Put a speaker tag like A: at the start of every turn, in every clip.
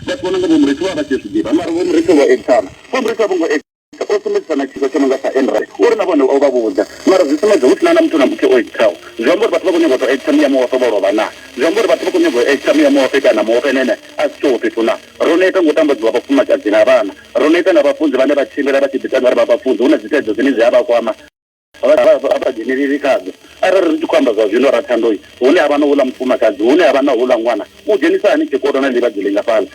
A: Vhathu vha no nga Vho Murithi vho vha vha tshi zwi ḓivha, mara Vho Murithi vho ekana. Vho Murithi a vho ngo ekana, o sumbedzisa na tshiko tsho no nga tsha Enry uri na vhone o vha vhudza, mara zwi sumbedza hu si na na muthu na muthihi o ekitaho. Zwi amba uri vhathu vha khou nyaga u tou ekita muya muhofe vho lovha naa? Zwi amba uri vhathu vha khou nyaga u ekita muya muhofe kana muhofe na ene a si tsheho fhethu naa? Ro neta nga u tambadziwa vhafumakadzi na vhana. Ro neta nga vhafunzi vhane vha tshimbila vha tshi ḓitanga uri vha vhafunzi, hu na dzithaidzo dzine dzi a vha kwama. a sa dzheneleli khadzo arali ri tshi khou amba zwa zwino ra thandoi hune ha vha na hula mufumakadzi hune ha vha na hula ṅwana u dzhenisa hani tshikolo na ḽivhadzi lingafhala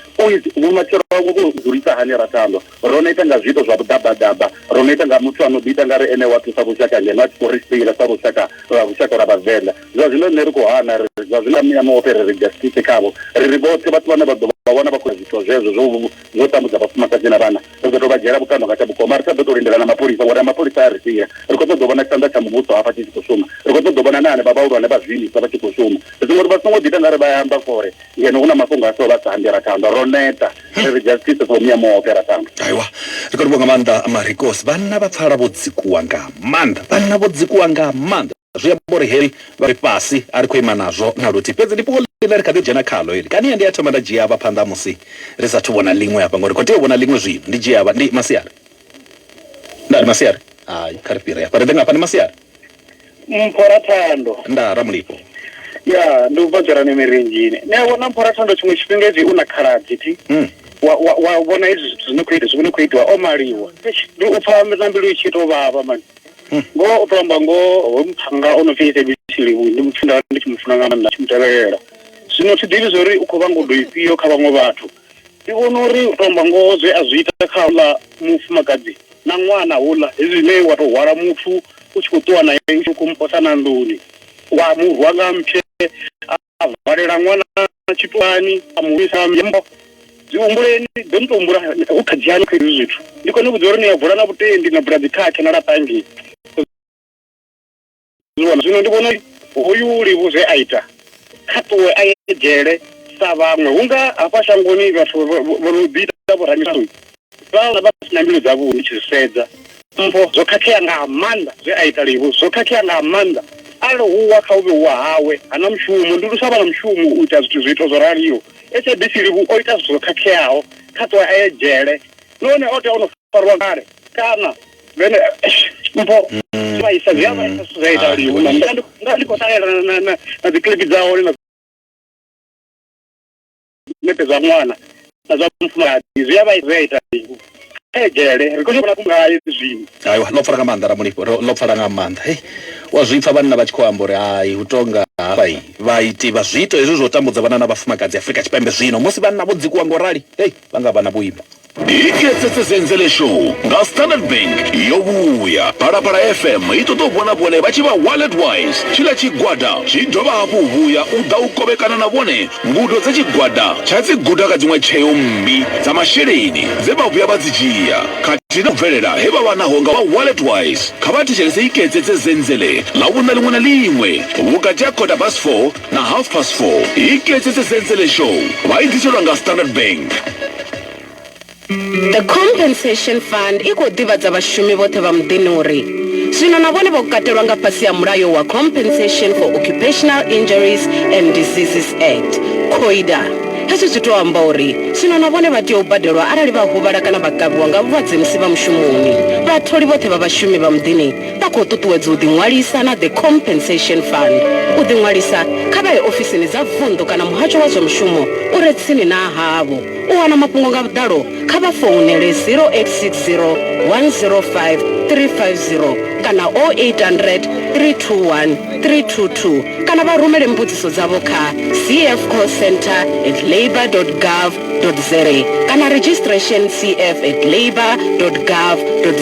A: vhumatshelo vhawe vho dzulisa hani ra thandwa ro no ita nga zwiito zwa vhuḓabadaba ro no ita nga muthu a no ḓi ita nga ri ene wa thusa vhushaka ngeno a tshi khou ri sila sa lushaka lwa lushaka lwa vhavenḓa zwa zwino nṋe ri khou hana ri zwa zwino muya muoṱhe ri ri justice khavho ri ri vhoṱhe vhathu vhane vha ḓo vha vhona vha khou zwithu zwezwo zwo zwo tambudza vhafumakadzi na vhana ri ḓo tou vha dzhiela vhukando nga tsha vhukoma ri sa ḓo tou lindela na mapholisa ngori na mapholisa a ri sia ri khou ṱoḓa u vhona tshanḓa tsha muvhuso hafha tshi tshi khou shuma ri khou ṱoḓa u vhona na hanevha vhahulwane vha zwiimiswa vha tshi khou shuma ri songo ri vha songo ḓita nga ri vha amba fore ngeno hu na mafhungo a so vha sa ambi ra tanda ro neta ri ri justice for muya muoke ra tanda aiwa ri khou livha
B: nga maanḓa marikos vhanna vha pfala vho dzikuwa nga maanḓa vhanna vho dzikuwa nga maanḓa zwi amba uri heli vha ri fhasi a ri khou ima nazwo na luthihi. Fhedzi ndi fhungo ḽine ri kha ḓi dzhena khaḽo heli. Kani ndi a thoma nda dzhia vha phanḓa musi ri sa athu vhona ḽiṅwe hafha, ngauri ri khou tea u vhona ḽiṅwe zwino. Ndi dzhia vha. Ndi masiari ndaa? Ndi masiari? Hai, kha ri fhire hafha ri ḓe nga hafha. Ndi masiari? Mpho ra thando.
A: Ndaa, Ramulifho.
B: Ya, ndi
A: u bva dzhorani mirinzhini. Ni a vhona, Mpho ra thando, tshiṅwe tshifhinga hezwi u na khaladzi thi, wa, wa, wa vhona hezwi zwithu zwi no khou ita, zwi no khou itiwa o maliwa. Eish, ndi u pfa na mbilu i tshi tou vhavha mani. ngoho u to amba ngoho hoyu muthannga o no pfi Sabc Livhuwa ndi muthu nda vha ndi tshi mu funa nga maanḓa tshi mu tevhelela zwino thi ḓivhi zwori u khou vha ngudo ifhio kha vhaṅwe vhathu ndi vhona uri u to amba ngoho zwe a zwi ita kha houḽa mufumakadzi na ṅwana houḽa hezwi zwine wa tou hwala muthu u tshi khou ṱuwa nae u tshi khou muposa na nḓuni wa mu rwa nga mphye a valela ṅwana tshitwani a mu vhuisa nyimbo dzi humbuleni ḓo ni to humbula hu kha dzhiani kha hezwi zwithu ndi kone vhudza uri ni a bula na vhutendi na bula dzikhakhe na laṱa ngei zwivhona zwino ndi vhona uri hoyu ulivhu zwe a ita kha ṱuwe a ye dzhele sa vhaṅwe hunga hafha shangoni vhathu vho no ḓi ita vhoramiṱanu Vhaṅwe vha si na mbilu dzavhuḓi ndi tshi zwi sedza. Mpho zwo khakhea nga maanḓa zwe a ita Livhu, zwo khakhea nga maanḓa. Arali hu wa kha u vhe u wa hawe, ha na mushumo. Ndi lu sa vha na mushumo u ita zwithu zwiito zwo raliho. SABC Livhu o ita zwithu zwo khakheaho, kha ṱuwe a ye dzhele. Nahone o tea o no farwa kale kana vhene mpho dzi vhaisa dzi a vhaisa zwithu zwa ita Livhu. Nga ndi nga ndi khou ṱalela na na na na dzi clip dza hone na ṋete zwa ṅwana na zwa mufumakadzi zwi a vha zwi a ita mini kha ye dzhele ri khou zwi vhona ku ngayo zwino aiwa ḽo pfala nga maanḓa
B: ramulifho ro- ḽo pfala nga maanḓa hei wa zwi pfa vhanna vha tshi khou amba uri hai hu tonga hafha i vhaiti vha zwiito hezwi zwo tambudza vhanna na vhafumakadzi afurika tshipembe zwino musi vhanna vho dzikuwa ngo rali hei vha nga vha na vhuimo ipfesesese
C: nzele show nga standard bank yo vhuya phalaphala fm i ṱoḓa u vhona vhone vha tshi vha wallet wise tshiḽa tshigwada tshi dovha hafhu u vhuya u ḓa u kovhekana na vhone ngudo dza tshigwada tsha dzi guda kha dziṅwe tsheo mmbi dza masheleni dze vha vhuya vha dzi dzhia khathihi na u bvelela he vha vha naho nga vha wallet wise kha vha thetshelese iketsetse zenzele ḽa vhuna liṅwe na liṅwe vhukati ha kota bas 4 na half past 4 yi tletsetse sensele show ba yi ḓiselwa nga standard bank
D: the compensation fund i khou ḓivhadza vhashumi vhoṱhe vha muḓini uri zwino na vhone vho katelwa nga fhasi ya mulayo wa compensation for occupational injuries and diseases act coida hezwi zwi tou amba uri zwino na vhone vha tea u badelwa arali vha huvhala kana vha kavhiwa nga vhulwadze musi vha mushumoni vhatholi vhoṱhe vha vhashumi vha muḓini Vha khou ṱuṱuwedzwa u ḓiṅwalisa na The Compensation Fund. U ḓiṅwalisa, kha vha ye ofisini dza vunḓu kana muhasho wa zwa mushumo u re tsini na havho. U wana mafhungo nga vhuḓalo, kha vha founele 0860 105 350 kana 0800 321 322 kana vha rumele mbudziso dzavho kha cfcallcentre at labour.gov. za kana registration cf at labour gov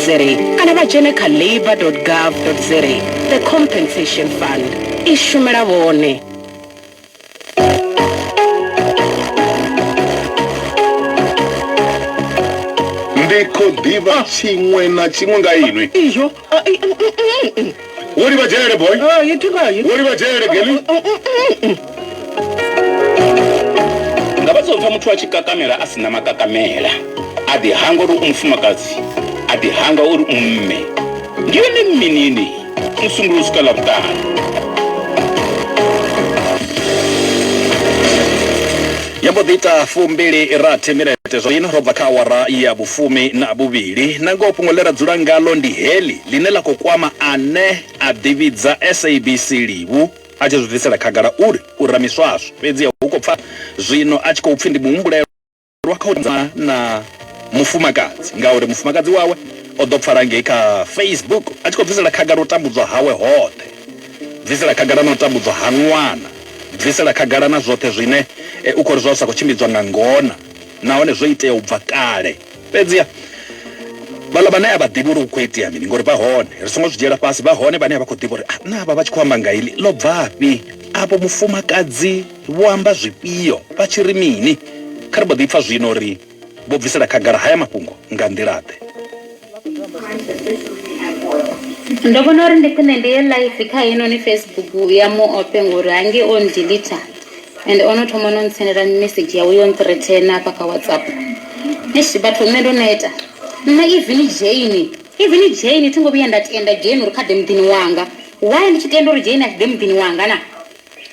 D: za kana vha dzhene kha labour gov za the compensation fund i shumela vhone
C: ndi khou ḓivha tshiṅwe na tshiṅwe nga inwi
D: Wo
C: ri vha dzhele boy. Oh, you took out. Wo ri vha
D: dzhele geli.
E: Nga vha tsopfa muthu a tshi kakamela a sina makakamela. A ḓi hangwa uri u mufumakadzi. A ḓi hangwa uri u mme. Ndi yone mminini. Musumbulo u swika ḽa vhuṱanu.
B: Yo mbo ḓi ita fumbili rathi minete zwino ro bva kha awara ya vhufumi na vhuvhili. Nangoho fhungo ḽe ra dzula ngaḽo ndi heḽi ḽine ḽa khou kwama ane a ḓivhidza SABC livhu a tshi zwi bvisela khagala uri u ra miswaswo. Fhedziha hu khou pfa zwino a tshi khou pfi ndi muhumbulelwa kha u ṱumana na mufumakadzi ngauri mufumakadzi wawe o ḓo pfala ngei kha Facebook a tshi khou bvisela khagala u tambudzwa hawe hoṱhe, bvisela khagala na u tambudzwa ha ṅwana. bvisela khagala na zwoṱhe zwine u khou ri zwa zwi sa khou tshimbidzwa nga ngona nahone zwo itea u bva kale. Fhedziha vhaḽa vhane a vha ḓivhi uri hu khou itea mini, ngori vha hone, ri songo zwi dzhiela fhasi, vha hone vhane a vha khou ḓivha uri naa avha vha tshi khou amba nga heḽi ḽo bvafhi, avho mufumakadzi vho amba zwifhio, vha tshi ri mini. Kha ri mbo ḓi pfa zwino uri. vho bvisela khagala haya mafhungo nga nḓila-ḓe?
F: Ndo vhona uri ndi khwine ndi ye live kha heinoni Facebook ya mu ope ngori hange o ndilita and o no thoma no ntsendela message yawe yo nthreatena hafha kha WhatsApp. Eish vhathu nṋe ndo neta. Nṋe even Jane, even Jane thi ngo vhuya nda tenda Jane uri kha ḓe muḓini wanga. Why ndi tshi tenda uri Jane a si ḓe muḓini wanga na?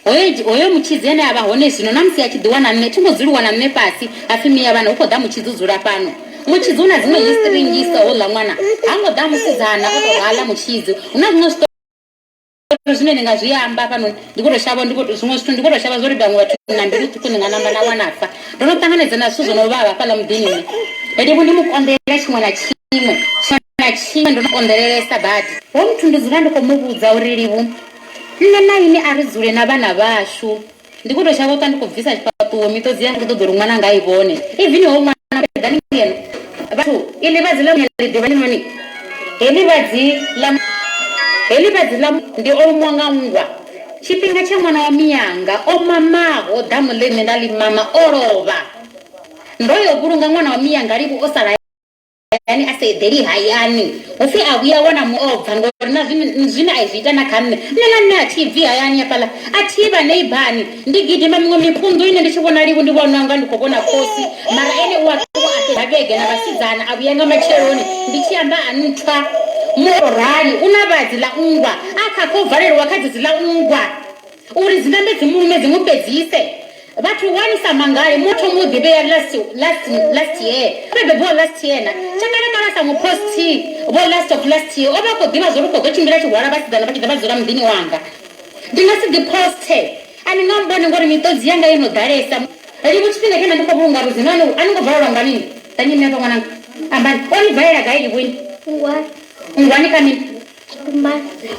F: Hoyo, hoyo mutshidzi ane a vha hone zwino, na musi a tshi ḓiwana nṋe thi ngo dzuliwa na nṋe fhasi, ha pfi, Mia vhana, hu khou ḓa mutshidzi u dzula fhano. Mutshidzi u na dziṅwe histiri nnzhisa, houḽa ṅwana ha ngo ḓa musidzana o tou rala, mutshidzi hu na zwiṅwe zwiṱori zwine ndi nga zwi amba hafhanoni, ndi khou tou shavha, ndi khou, zwiṅwe zwithu ndi khou tou shavha zwa uri vhaṅwe vhathu na mbilu ṱhukhu ni nga namba na wana fa. Ndo no ṱanganedza na zwithu zwo no vhavha hafhaḽa muḓini nṋe. Livhu ndi mu konḓela tshiṅwe na tshiṅwe tsho. na tshiṅwe ndo no konḓelelesa badi. Ho muthu ndi dzula ndi khou mu vhudza uri Livhu, nṋe na inwi a ri dzule na vhana vhashu. Ndi khou tou shavha u ṱwa ndi khou bvisa tshifhaṱuwo, miṱodzi yanga i khou ṱoḓa uri ṅwananga a i vhone. Ivini hoyu ṅwana u eḓani ngeno. Vhathu, iḽi vhadzi ḽa muya ḽi ḓivhani noni? Heḽi vhadzi ḽa muya, heḽi vhadzi ḽa muya ndi o lumiwa nga nngwa. Tshifhinga tsha ṅwana wa mianga o mamaho ḓamu ḽe nṋe nda ḽi mama o lovha. Ndo yo vhulunga ṅwana wa mianga Livhu o sala hayani. hayani a sa eḓeli hayani hupfi a vhuya wana muobva ngori na zwine a zwi ita na kha nṋe nṋe na nṋe a thi bvi hayani hafhaḽa a thi vha neibani ndi gidima miṅwe mipunḓu ine ndi tshi vhona livhu ndi vhona nga ndi khou vhona khosi mara ene u a ṱuwa a fhedza vhege na vhasidzana a vhuya nga matsheloni ndi tshi amba a nthwa murali u na vhadzi ḽa nngwa a kha khou valelwa kha dzedzi ḽa nngwa Uri dzi nambe dzi mu lume dzi mu fhedzise. Vhathu wani sa mangale mo thoma u ḓivhea last last last year ri bebiwa last year na tsha kale kale sa mu post vho last of last year o vha khou ḓivha zwo ri khou ḓo tshimbila tshi hwala vhasidzana vha tshi ḓa vha dzula muḓini wanga ndi nga si ḓi post a ni nga mbone ngori miṱodzi yanga yo no ḓalesa livhu tshifhinga tshena ndi khou vhulunga ludzino ani ani ngo valelwa nga lini ḓa nyimele vho ṅwananga ambani o ni valela gai livhuni ngwani ngwani kha mini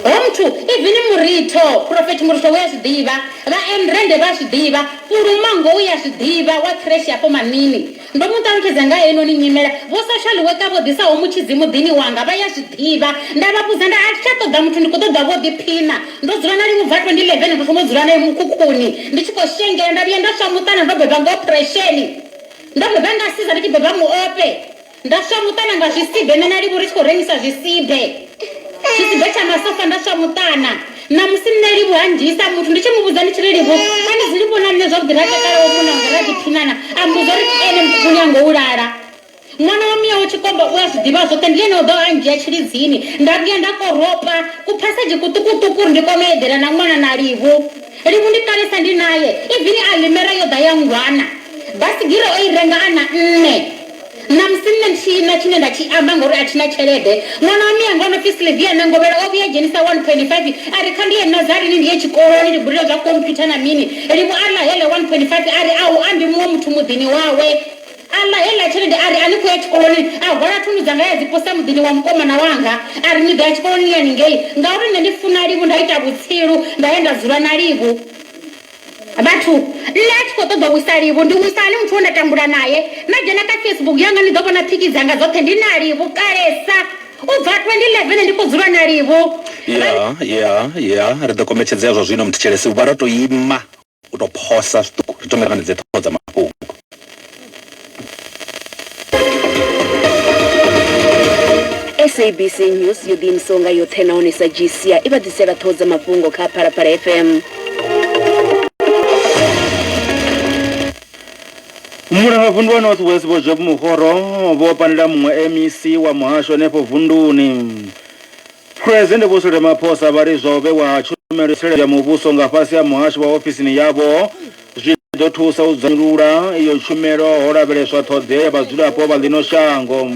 F: Hoyo muthu, ivini muritho, phurofethi muritho u a zwi ḓivha, vhaembrende vha a zwi ḓivha, pfulumanngo u a zwi ḓivha, wa khreshe hafho Manini. Ndo mu ṱalutshedza nga ha heinoni nyimele. Vho-social worker vho ḓisaho mutshidzi muḓini wanga vha a zwi ḓivha. Nda vha vhudza nda, A thi tsha ṱoḓa muthu, ndi khou ṱoḓa vho-ḓiphina. Ndo dzula na Livhuva 2011, ndo thoma u dzula nae mukhukhuni ndi tshi khou shengela. Nda vhuya nda swa muṱana, ndo beba nga ophresheni. Ndo beba nga siza ndi tshi beba muofhe. Nda swa muṱana nga zwisibe nṋe na Livhu ri tshi khou rengisa zwisibe. Tshisibe tsha masofa nda swa muṱana. Ṋamusi nṋe Livhu a ndzhiisa muthu ndi tshi mu vhudza ndi tshi ri Livhu a ni dzuli vho na nṋe zwavhuḓi ra takala wa munna wanga ra ḓiphinana a mmbudza uri ndi ene muḓifhoni a ngo u lala. Ṅwana wa miau tshikomba u a zwi ḓivha zwoṱhe ndi ene o ḓaho a ndzhia tshilidzini. Nda vhuya nda koropa kuphasedzhi kuṱukuṱuku uri ndi kone u eḓela na ṅwana na Livhu. Livhu ndi kalesa ndi nae, ivini Alimera yo ḓa ya nngwana. Baisigira o i renga a na nṋe. Ṋamusi nṋe thi na tshine nda tshi amba ngauri a thi na tshelede. Ṅwana wa mianga o no pfi Sylvia Nangovhela o vhuya a dzhenisa 1.5 a ri, Kha ndi ye Nazarini ndi ye tshikoloni ndi gudele zwa khomphyutha na mini. Limu a ḽa heḽe 1.5 a ri, A hu ambi muṅwe muthu muḓini wawe. A ḽa heiḽa tshelede a ri, A ni khou ya tshikoloni? A hwala thundu dzanga ya dzi posa muḓini wa mukomana wanga a ri, Ni ḓo ya tshikoloni ni haningei? Ngauri nṋe ndi funa Livhu nda ita vhutsilu nda ya nda dzula na Livhu. Vhathu, Nṋe a thi khou ṱoḓa u wisa livhu. Ndi wisa hani muthu we nda tambula nae? Na dzhena kha Facebook yanga ni ḓo vhona phiki dzanga dzoṱhe ndi na livhu kalesa. U bva 2011 ndi khou dzula na livhu. Ya, ya, ya, ri ḓo kombetshedzea zwa zwino, Mthetshelesi. U vha ro tou ima, u tou phosa zwiṱuku, ri thome ri ṱanganedze ṱhoho dza mafhungo.
D: sabc news yo ḓiimisaho nga yoṱhe nahone sa gcia i vha ḓisela ṱhoho dza mafhungo kha phalaphala fm
G: mulanga vundu wa north west vho job muhoro vho panela muṅwe mec wa muhasho henefho vunduni phresidennde vho sule maphosa vha ri zwa u vhewa ha tshumelo ya muvhuso nga fhasi ha muhasho wa ofisini yavho Zwi ḓo thusa u dzanyulula iyo tshumelo ho lavheleswa ṱhoḓea ya vhadzulapo vha ḽino shango.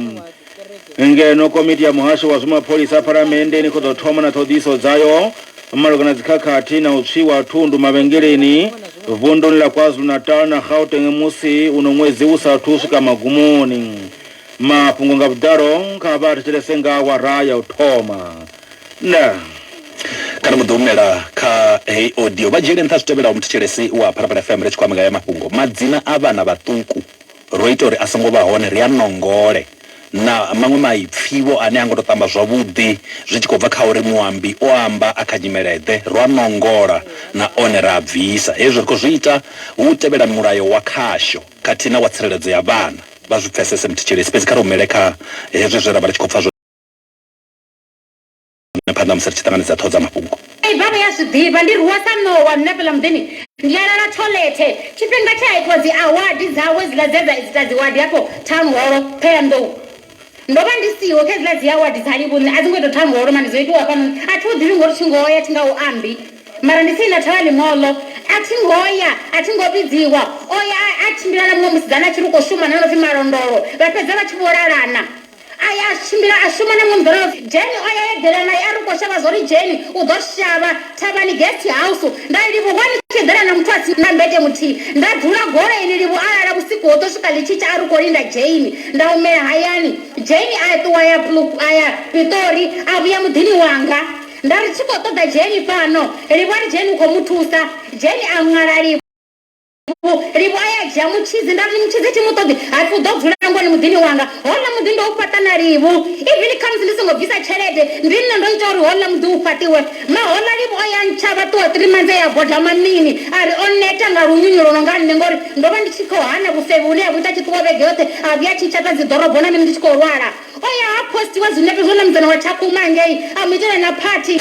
G: Ngeno komiti ya muhasho wa zwa mapholisa phalamenndeni i khou ḓo thoma na ṱhoḓiso dzayo malugana na dzikhakhathi na u tswiwa ha thundu mavhengeleni vunduni ḽa KwaZulu-Natal na Gauteng musi uno ṅwedzi u sa athu u swika magumoni. Mafhungo nga vhuḓalo kha vha a thetshelese nga awara ya u thoma. na
B: kana mu ḓo humela kha heyi audio vha dzhiele nṱha zwi tevhelaho muthetshelesi wa phalaphala fm ri tshi khou amba nga ya mafhungo madzina a vhana vhaṱuku ro ita uri a songo vha hone ri a nongole na maṅwe maipfivho ane a ngo to tamba zwavhuḓi zwi tshi khou bva kha uri muambi o amba a kha nyimeleḓe ro a nongola na one ra a bvisa hezwi ri khou zwi ita hu u tevhela mulayo wa khasho khathihi na wa tsireledzo ya vhana vha zwi pfesese muthetshelesi fhedzi kha ri humele kha hezwi zwe ra vha ri tshi khou pfa na phanḓa musi ri tshi ṱanganedza ṱhoho dza mafhungo. Ivan u ya zwi ḓivha
F: ndi rwiwa sa ṋowa nṋe fheḽa muḓini ndi a lala tholethe tshifhinga tshe a itiwa dzi awadi dzawe dziḽa dze dza ita dzi wadi hafho town holo Thohoyandou ndo vha ndi siho kha dziḽa dzi awadi dza Livhuṋe a dzi ngo ita town holo mani dzo itiwa hafhanoni a thi hu ḓivhi ngori thi ngo ya thi nga u ambi mara ndi tsini na thavha ḽiṅwolo a thi ngo ya a thi ngo vhidziwa o ya a tshimbila na muṅwe musidzana a tshi ri u khou shuma na no pfi Malondolo vha fhedza vha tshi vho lalana A ya a tshimbila a shuma na munḓirobvi. Jane o ya ya eḓela nae a ri u khou shavha zwo ri Jane u ḓo shavha thavhani, guest house. Nda ri, Livhu, ngani ni tshi eḓela na muthu a si na mmbete muthihi? Nda dzula goloini, Livhu a lala vhusiku hoṱhe u swika ḽi tshi tsha a ri u khou linda Jane. Nda humela hayani. Jane a ṱuwa a ya Pluk, a ya Piṱori, a vhuya muḓini wanga. Nda ri, Thi khou ṱoḓa Jane fhano. Livhu a ri, Jane u khou mu thusa. Jane a ṅwala, Livhu. livho a ya dzhia mutshidzi nda ri mutshidzi thi mu ṱoḓi ha pfi u ḓo dzula ngoni muḓini wanga houḽa muḓi ndo u fhaṱa na livhu even khamusi ndi songo bvisa tshelede ndi nṋe ndo ita uri houḽa muḓi u fhaṱiwe ma houḽa livhu o ya ntshavha ṱuwa three months ya boda mamini a ri o neta nga lunyunyu lwo no nga nṋe ngori ndo vha ndi tshi khou hana vhufevhi hune ya vhu ita tshi ṱuwa vhege yoṱhe a vhuya tshi tshata dzi ḓorobo na mini ndi tshi khou lwala O ya ha postiwa zwinepe zwo namudzana wa Tshakhuma hangei, a mu itela na phathi.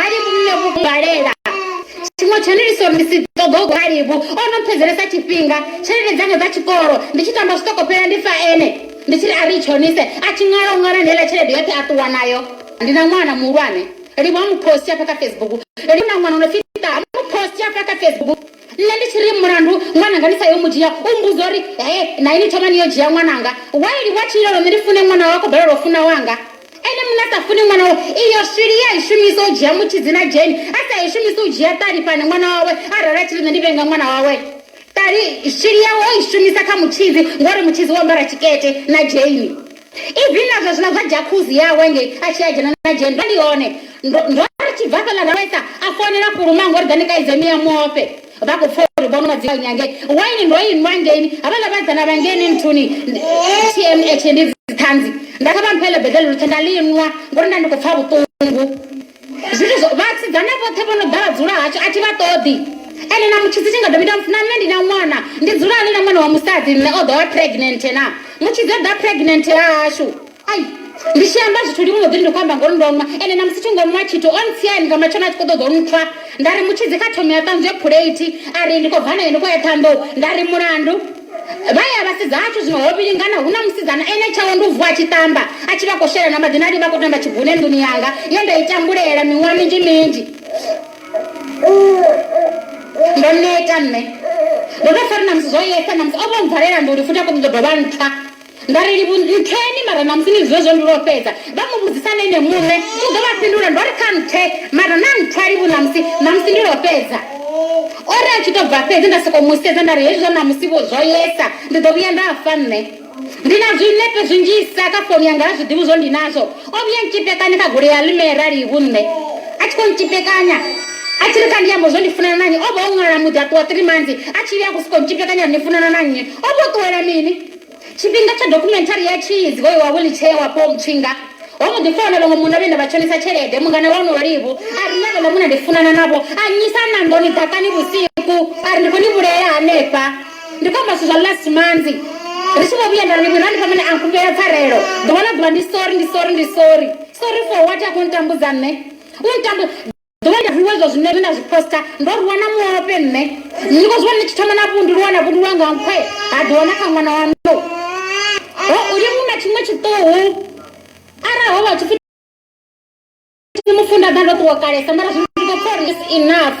F: Hai muṋe vhugalela tshiṅwe tshone ndi sori ndi si ṱoḓa u galibu o no mpfedzelesa tshifhinga tshelede dzanga dza tshikolo ndi tshi tamba zwiṱoko fhela ndi fa ene ndi tshi ri a ri i tshonise a tshi ṅwala u ṅwala ndeela tshelede yoṱhe a ṱuwa nayo ndi na ṅwana muhulwane livho a mu posti afha kha facebook li na ṅwana no pfi ṱa a mu posti afha kha facebook nṋe ndi tshi ri mulandu ṅwananga ndi sa yo mu dzhia u mbuza uri he na ini thoma ni yo dzhia ṅwananga waili wa tshilelo nṋe ndi fune ṅwana wako balelwa u funa wanga Ene muṋe a sa funi ṅwana wawe, iyo swiri ye a i shumisa u dzhia mutshidzi na dzheni, a sa i shumisi u dzhia ṱali fhane ṅwana wawe a ralo a tshi ri nṋe ndi vhee nga ṅwana wawe. Ṱali, swiri yawe o i shumisa kha mutshidzi, ngauri mutshidzi u ambara tshikete na dzheni. Even na zwezwiḽa zwa jacuzzi yawe ngei a tshi ya a dzhena na dzheni, ndo ndi hone. Ndo, ndo ri tshi bva fhaḽa ra vhaisa, a founela Fhuluma a nga uri ḓa ni kaidze miya muofhe. Vha khou pfa uri vhono madzinga nyange waini ndo i nwa ngeini havhaḽa vhadzana vha ngeni nthuni tmh ndi dziṱhanzi nda kha vha mphele beḓele luthe nda ḽi nwa ngori nda ndi khou pfa vhuṱungu zwithu zwo vhasidzana vhoṱhe vho no ḓa vha dzula hashu a thi vha ṱoḓi ene na mutshidzi tshi nga ḓo mita na nṋe ndi na ṅwana ndi dzula ḽi na ṅwana wa musadzi nṋe o ḓo vha pregnant na mutshidzi o ḓa pregnant hashu ai ndi tshi amba zwithu ndi mbo ḓi ndi khou amba ngori ndo nwa ende na musi thi ngo nwa tshithu o ntsiani nga matshelo a tshi khou ṱoḓa u ntswa nda ri mutshidzi kha thomi a ṱanzwe phuleithi a ri ndi khou bva naye ndi khou ya ṱhanḓou nda ri mulandu vha ya vhasedza hashu zwino ho vhilingana hu na musidzana ene tshawe ndi u vuwa a tshi ṱamba a tshi vha khou shela na maḓi na ndi vha khou tamba tshibune nḓuni yanga ye nda i tambulela miṅwaha minzhi minzhi ndo neta nṋe ndo tou fari na musi zwo yesa na musi o vho mvalela nduli futhi a khou ṱoḓa dovha ntswa Nda ri, Livhu, ntheni, mara ṋamusi ni zwiḓivha zwo ndi lwo fhedza. Vha mu vhudzisa na ene muṋe, u ḓo vha fhindula. Ndo ri, Kha nthe, mara na nthwa, Livhu, ṋamusi, ṋamusi ndi lwo fhedza. O ri a tshi tou bva fhedzi, nda sokou mu sedza nda ri, Hezwi zwa ṋamusi-vho zwo yesa, ndi ḓo vhuya nda fa nṋe. Ndi na zwinepe zwinzhisa kha founu yanga ha zwiḓivhi zwo ndi nazwo. O vhuya ntshipekanya kha goloi ya ḽimera, Livhu, nṋe. A tshi khou ntshipekanya, a tshi ri, Kha ndi ambe zwo ndi funana na nnyi. O vha o ṅwala muḓi a ṱuwa three months a tshi vhuya a khou sokou ntshipekanya uri ni funana na nnyi. O vha o ṱuwela mini? Tshifhinga tsha dokhumenthari ya Cheese hoyu wa wheelchair wa Paul Mutshinga, ho mbo ḓi founelwa nga munna vhe nda vha tshonisa tshelede. Mungana wa onoyo Livhu a ri, Ḽeneḽo munna ndi funana navho, a nnyisa a na nḓuni ḓakani vhusiku a ri ndi khou ni vhulaela hanefha. Ndi khou amba zwithu zwa last manzi ri tshi vho vhuya nda ri Livhu, Randifha mini a nkhumbela pfarelo ḓuvha na ḓuvha, ndi sorry, ndi sorry, ndi sorry. Sorry for what? A khou ntambudza nṋe, u ntambu. ndo ita zwiṅwe zwa zwine na zwi posta ndo rwiwa na muope nṋe ndi khou zwiwana ni tshi thoma na vhu ndi lwana vhundu lwanga nkhwe ha dovha na kha ṅwana wa ndo ho u ye mu na tshiṅwe tshiṱuhu arali ho vha tshipfi mufunda ḓa ndo ṱuwa kalesa mara zwi ndi khou pfa uri is enough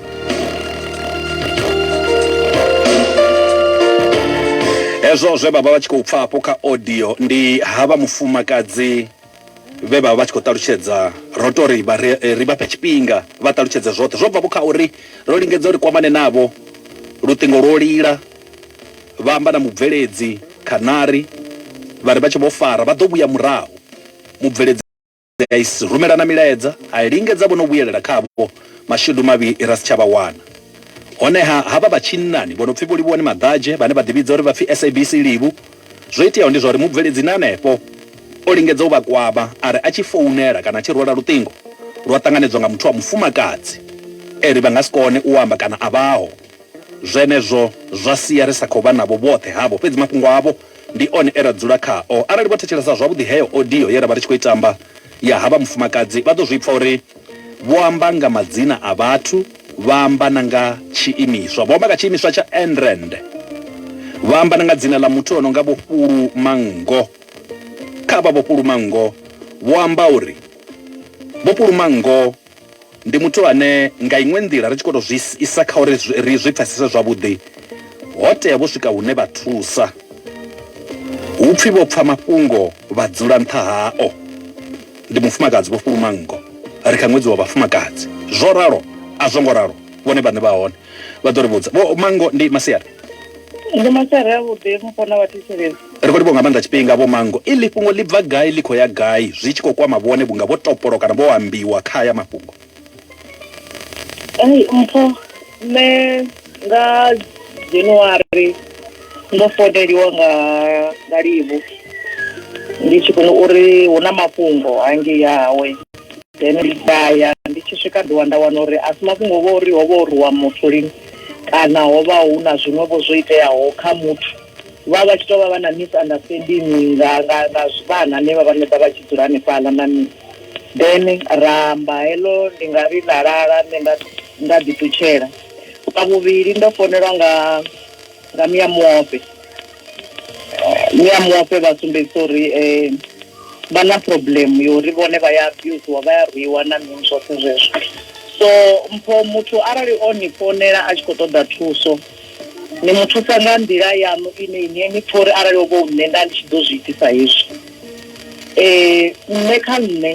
B: hezwo zwe vha vha vha tshi khou pfa hafho kha audio ndi havha mufumakadzi vhe vha vha vha tshi khou ṱalutshedza ro to ri vha ri eh, ri vha fhe tshifhinga vha ṱalutshedze zwoṱhe zwo bva vho kha uri ro lingedza uri kwamane navho luṱingo lwo lila vha amba na mubveledzi khanari vha ri vha tshi vho fara vha ḓo vhuya murahu mubveledzi fhedzi a isi rumelana milaedza, a lingedza vho no vhuyelela khavho mashudu mavhi ra si tsha vha wana. Honeha, havha vha tshinnani vho no pfi Vho Livhuwani Maḓadzhe vhane vha ḓivhidza uri vha pfi SABC Livhu, zwo iteaho ndi zwa uri mubveledzi ni hanefho o lingedza u vha kwama a ri a tshi founela kana a tshi rwela luṱingo lwa ṱanganedzwa nga muthu wa mufumakadzi e ri vha nga si kone u amba kana a vhaho. Zwenezwo zwa sia ri sa khou vha navho vhoṱhe havho, fhedzi mafhungo avho Ndi one e ra dzula khao. Arali vho thetshelesa zwavhuḓi heyo audio ye ra vha ri tshi khou i tamba ya havha mufumakadzi, vha ḓo zwi pfa uri vho amba nga madzina a vhathu, vha amba na nga tshiimiswa. Vho amba nga tshiimiswa tsha Enrand, vha amba na nga dzina ḽa muthu o no nga Vho Fhulu Manngo. Kha avha Vho Fhulu Manngo, vho amba uri Vho Fhulu Manngo Ndi muthu ane nga iṅwe nḓila ri tshi khou tou zwi isa kha uri ri zwi pfesese zwavhuḓi, ho tea vho swika hune vha thusa hu pfi vho pfa mafhungo vha dzula nṱha hao. Ndi mufumakadzi vho fhuluma nngo, ri kha ṅwedzi wa vhafumakadzi. Zwo ralo a zwo ngo ralo, vhone vhaṋe vha hone vha ḓo ri vhudza. Vho Manngo ndi Masiari. ndi
A: masare avhuḓi mufana wa thetshelezi ri khou livho nga maanḓa
B: tshifhinga vho mango iḽi fhungo ḽi bva gai ḽi khou ya gai zwi tshi khou kwama vhone vhunga vho topolo kana vho ambiwa kha aya mafhungo ai
A: mpho nṋe nga january ndo foneliwa nga nga livhu ndi tshi kona uri hu na mafhungo hangei hawe then ndi daya ndi tshi swika ḓiwa nda wana uri a si mafhungo vho uri ho vha o ruwa muthu lini kana ho vha hu na zwiṅwevho zwo iteaho kha muthu vha vha tshi tou vha vha na misunderstanding nga nga nga vhana ne vha vhaṋe vha vha tshi dzula hanefhaḽa na mini then ra amba heḽo ndi nga ri ḽa lala nṋe nda nda ḓiṱutshela vha vhuvhili ndo founelwa nga nga mia muope mia muope vha sumbedzisa uri um vha na problem yori vhone vha ya abusiwa vha ya rwiwa na mini zwoṱhe zwezwo so mpho muthu arali o ni founela a tshi khou ṱoḓa thuso ni mu thusa nga nḓila yaṋu ine ine ni pfha uri arali o vho nṋe nda ndi tshi ḓo zwi itisa hezwi um nṋe kha nṋe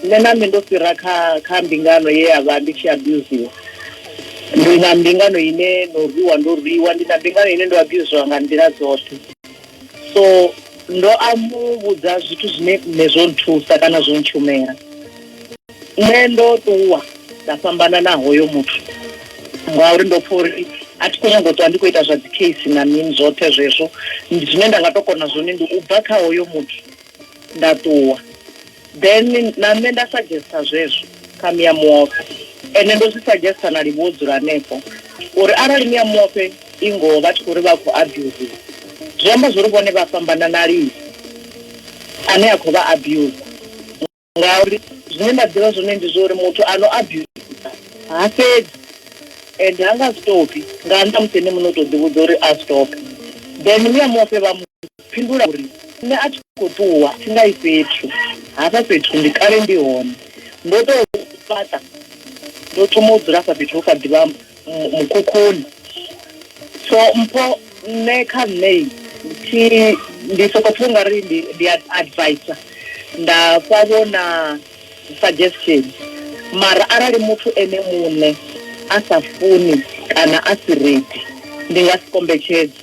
A: Nṋe na nṋe ndo fhira kha kha mbingano ye ya vha ndi tshi abuziwa. Ndi na mbingano ine no rwiwa ndo rwiwa, ndi na mbingano ine ndo abuziwa nga nḓila dzoṱhe. So ndo a mu vhudza zwithu zwine nṋe zwo nthusa kana zwo ntshumela. Nṋe ndo ṱuwa nda fhambana na hoyo muthu ngauri ndo pfha uri a thi khou nyanga u ṱwa ndi khou ita zwa dzi case na mini zwoṱhe zwezwo. Zwine nda nga to kona zwone ndi u bva kha hoyo muthu nda ṱuwa then na nṋe nda suggesta zwezwo kha mia muofhe ende ndo zwi suggesta na livhuwa u dzula hanefho uri arali mia muofhe i ngoho vha tshi khou ri vha khou abusiwa zwi amba zwori vhone vha fhambana na lini ane a khou vha abuser
H: ngauri zwine nda ḓivha zwone ndi zwa uri muthu a no abusa ha fhedzi and ha nga stopi nga nnḓa musi ene muṋe u tou ḓivhudza uri a stope then muya mufe vha mu fhindula uri nṋe a tshi khou ṱuwa thi nga i fhethu hafha fhethu ndi kale ndi hone ndo tou fhaṱa ndo thoma u dzula afha fhethu ho kha ḓivha mukhukhuni so mpho nṋe kha nṋe thi ndi soko pfha ungari ndi ndi advisor nda fha vho na suggestion mara arali muthu ene muṋe a sa funi kana a si ready ndi nga si kombetshedze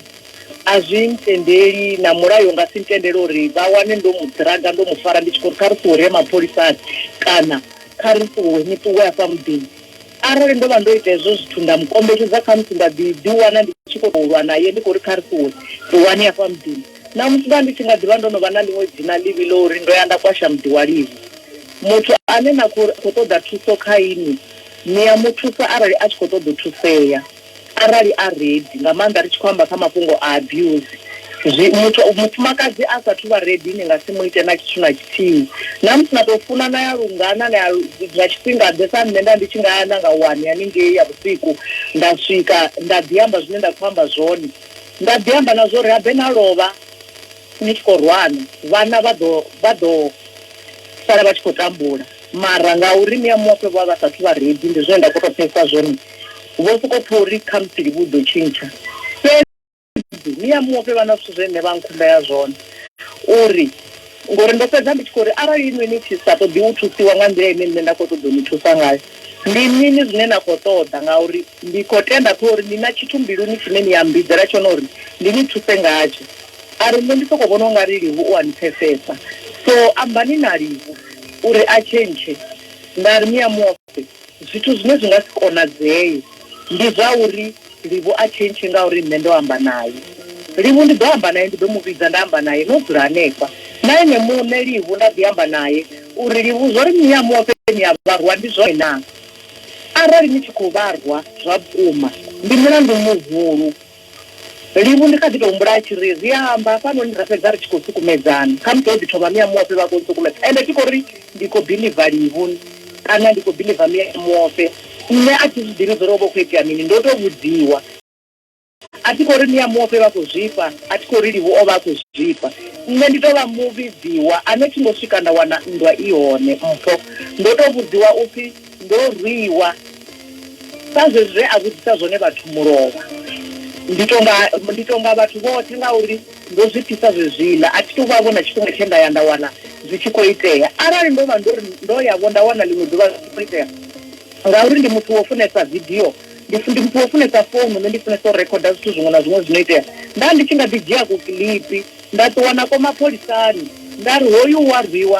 H: a zwi ntendeli na mulayo nga si ntendele uri vha wane ndo mu draga ndo mu fara ndi tshi khou ri kha ri ṱuwe ri ye mapholisani kana kha ri ṱuwe ni ṱuwe hafha muḓini Arali ndo vha ndo ita hezwo zwithu nda mu kombetshedza, khamusi nda ḓi ḓiwana ndi tshi khou tou lwa nae ndi khou ri kha ri ṱuwe, ṱuwani hafha muḓini. Ṋamusi nda ndi tshi nga ḓi vha ndo no vha na ḽiṅwe dzina ḽivhi ḽa uri ndo ya nda kwasha muḓi wa Livi. Muthu ane na khou ri a khou ṱoḓa thuso kha inwi, ni a mu thusa arali a tshi khou ṱoḓa u thusea. Arali a ready nga maanḓa ri tshi khou amba kha mafhungo a abuse zwi muthu mufumakadzi a sathu vha ready ni nga si mu ite na tshithu na tshithihi na musi na to funa na ya lungana na ya zwa tshifhinga ḓe sa nṋe nda ndi tshi nga ya na nga wani haningei ya vhusiku nda swika nda ḓi amba zwine nda khou amba zwone nda ḓi amba na zwori habe na lovha Ni tshi khou rwana, vhana vha ḓo, vha ḓo sala vha tshi khou tambula. Mara ngauri ni a muofhe vho vha vha sa athu vha ready, ndi zwine nda khou tou pfesesa zwone. Vho sokou pfa uri khamusi livhi u ḓo tshintsha. Fhedzi ni a muofhe vha na zwithu zwe nṋe vha nkhumbela zwone uri, ngori ndo fhedza ndi tshi khou ri arali inwi ni tshi sa ṱoḓi u thusiwa nga nḓila ine nṋe nda khou ṱoḓa u ni thusa ngayo, Ndi mini zwine na khou ṱoḓa? Ngauri ndi khou tenda kha uri ni na tshithu mbiluni tshine ni a mmbidzela tshone uri ndi ni thuse ngatsho. A ri, Nṋe ndi sokou vhona u nga ri Livu u a ni pfesesa, so ambani na Livu uri a tshentshe. Nda ri, Ni a mu ofha? Zwithu zwine zwi nga si konadzee ndi zwa uri Livu a tshi ntshi ngauri nṋe ndo amba nae. Livu ndi ḓo amba nae, ndi ḓo mu vhidza nda amba nae no dzula hanefha. Na ene muṋe Livu nda ḓi amba nae u ri, Livu, zwo ri ni a mu ofheni ni a vha rwa, ndi zwone naa? Arali ni tshi khou vha rwa zwa vhukuma, ndi mulandu muhulu. Livu ndi kha ḓi tou humbula a tshi ri, Ri a amba hafhanoni ra fhedza ri tshi khou sukumedzana. Khamusi ho ḓi thoma mia muofhe vha khou ntsukumedza. Ende thi khou ri ndi khou biḽiva Livu kana ndi khou biḽiva mia muofhe. Nṋe a thi zwi ḓivhi zwo ri ho vha hu khou itea mini, ndo tou vhudziwa. A thi khou ri ni a muofhe vha khou zwifha, a thi khou ri Livhu o vha a khou zwifha. Nṋe ndi tou vha muvhidziwa ane thi ngo swika nda wana nndwa i hone, mpho. Ndo tou vhudziwa u pfi ndo rwiwa sa zwezwi zwe a vhudzisa zwone vhathu mulovha. Ndi tou nga, ndi tou nga vhathu vhoṱhe ngauri. Ndo zwi pfisa zwezwiḽa. A thi thu vha-vho na tshifhinga tshe nda ya nda wana zwi tshi khou itea. Arali ndo vha ndo ri ndo ya-vho nda wana ḽiṅwe ḓuvha zwi tshi khou itea, ngauri ndi muthu wo funesa vidio, ndi ndi muthu wo funesa founu, nṋe ndi funesa u rekhoda zwithu zwiṅwe na zwiṅwe zwi no itea, nda ndi tshi nga ḓi dzhia kukiḽipi nda ṱuwa nako mapholisani nda ri, Hoyu u a rwiwa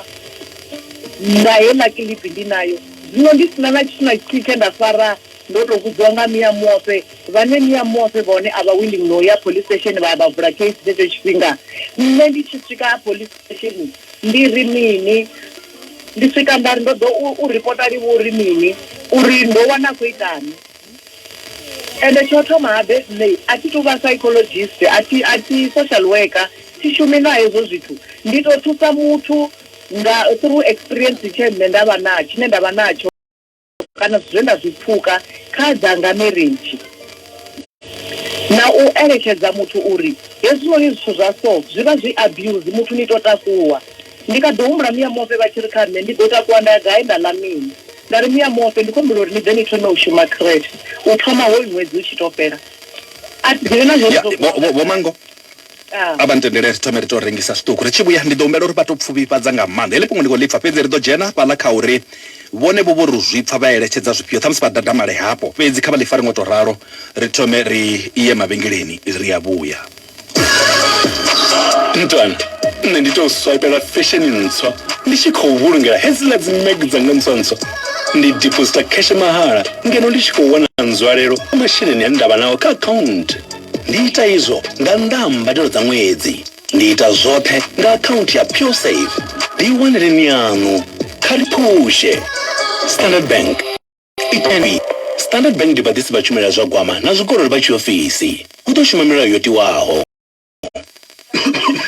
H: nga heiḽa kiḽipi ndi nayo. Zwino ndi si na na tshithu na tshithihi tshe nda fara Ndo tou vhudziwa nga Mia Moofhe, vhane Mia Moofhe vhone a vha willing na u ya police station vha ya vha vula case tshetsho tshifhinga. Nṋe ndi tshi swika police station ndi ri mini, ndi swika nda ri ndo ḓo u u ripota live uri mini, uri ndo wana a khou itani. Ende tsho thoma habe nṋe a thi tu vha psychologist, a thi a thi social worker, thi shumi na hezwo zwithu. Ndi tou thusa muthu nga through experience tshe nṋe nda vha na tshine nda vha natsho. kana zwithu zwe nda zwi pfuka kha dzanga marriage na u eletshedza muthu uri hezwinoni zwithu zwa so zwi vha zwi abuse muthu ni to takuwa ndi kha ḓi humbula miya mofe vha tshi ri kha nṋe ndi ḓo takuwa nda ya gai nda ḽa mini nda ri miya mofe ndi khombela uri ni ḓe ni thome u shuma creche u thoma hoyu ṅwedzi u tshi to fhela a ḓivhe na zwo mango
B: a vha ntendele ri thome ri tou rengisa zwiṱuku ri tshi vhuya ndi ḓo humbela uri vha tou pfuvhifhadza nga maanḓa heḽi fhungo ndi khou ḽi pfa fhedzi ri ḓo dzhena hafhaḽa kha uri vhone vho vho ri zwi pfa vha eletshedza zwifhio ṱhamusi vha dadamale hafho fhedzi kha vha ḽi fare ngo tou ralo ri thome ri iye mavhengeleni ri a vhuya
I: mntwana nṋe ndi tou swipela fesheni ntswa ndi tshi khou vhulungela hedziḽa dzi mag dzanga ntswa ntswa ndi diposita kheshe mahala ngeno ndi tshi khou wana nzwalelo masheleni ane ndavha nao kha akhaunthu Ndi ita izwo nga nnḓa ha mbadelo dza ṅwedzi. Ndi ita zwoṱhe nga akhaunthu ya PureSave. Ḓiwaneleni yaṋu. Kha ri phushe! Standard Bank. Ipfani, Standard Bank ndi vhaḓisi vha tshumelo ya zwa gwama na zwikololo vha tshiofisi. Hu ḓo shuma milayo yo tiwaho.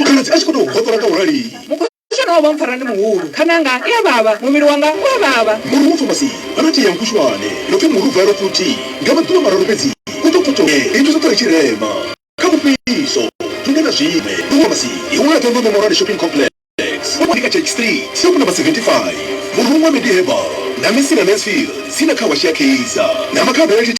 C: Khaladzi a tshi khou
I: tou
C: hoṱola nga u rali. Shana
J: wa mpfara ndi muhulu khananga i a vhavha muvhili wanga u a vhavha. Murhu wo thoma si vha na
C: tea ya nkushwane no pfi murhu bva erofuthi nga maḓuvha mararu fhedzi u ḓo pfuke ri nthu zwoṱhe ri tshi rema kha mufhiso thunde na zwiṅwe ndo vhona masi i wanala ṱhondo memorani shopping complex wa monika church street soku namba 75 murhu wa mediherbal na misi na mansfield si na kha wa shia keiza na makha bele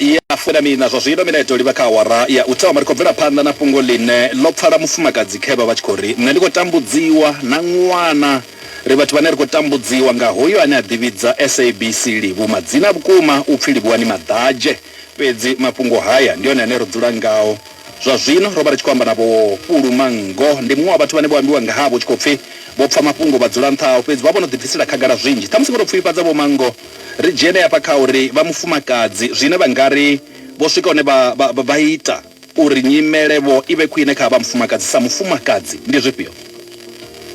B: ya fumiiṋa zwa zwino, mineto livha kha awara ya u thoma, ri khou bvela phanḓa na fhungo ḽine ḽo pfala mufumakadzi khevha vha tshi khou ri, Nṋe ndi khou tambudziwa na ṅwana. Ri vhathu vhane ri khou tambudziwa nga hoyu ane a ḓivhidza SABC Livhu madzina a vhukuma u pfi Livhuwani Maḓadzhe. Fhedzi mafhungo haya ndi one ane ro dzula ngao. Zwa zwino ro vha ri tshi khou amba na Vho Pulu Manngo. Ndi muṅwe wa vhathu vhane vho ambiwa nga havho hu tshi khou pfi vho pfa mafhungo vha dzula nṱha hao fhedzi vha vho no ḓibvisela khagala zwinzhi. Ṱhamusi vho tou pfufhifhadza Vho Manngo. Ri dzhene hafha kha uri vha mufumakadzi zwine vha nga ri vho swika hune vha, vha, vha ita uri nyimele vho i vhe khwine kha havha mufumakadzi sa mufumakadzi ndi zwifhio?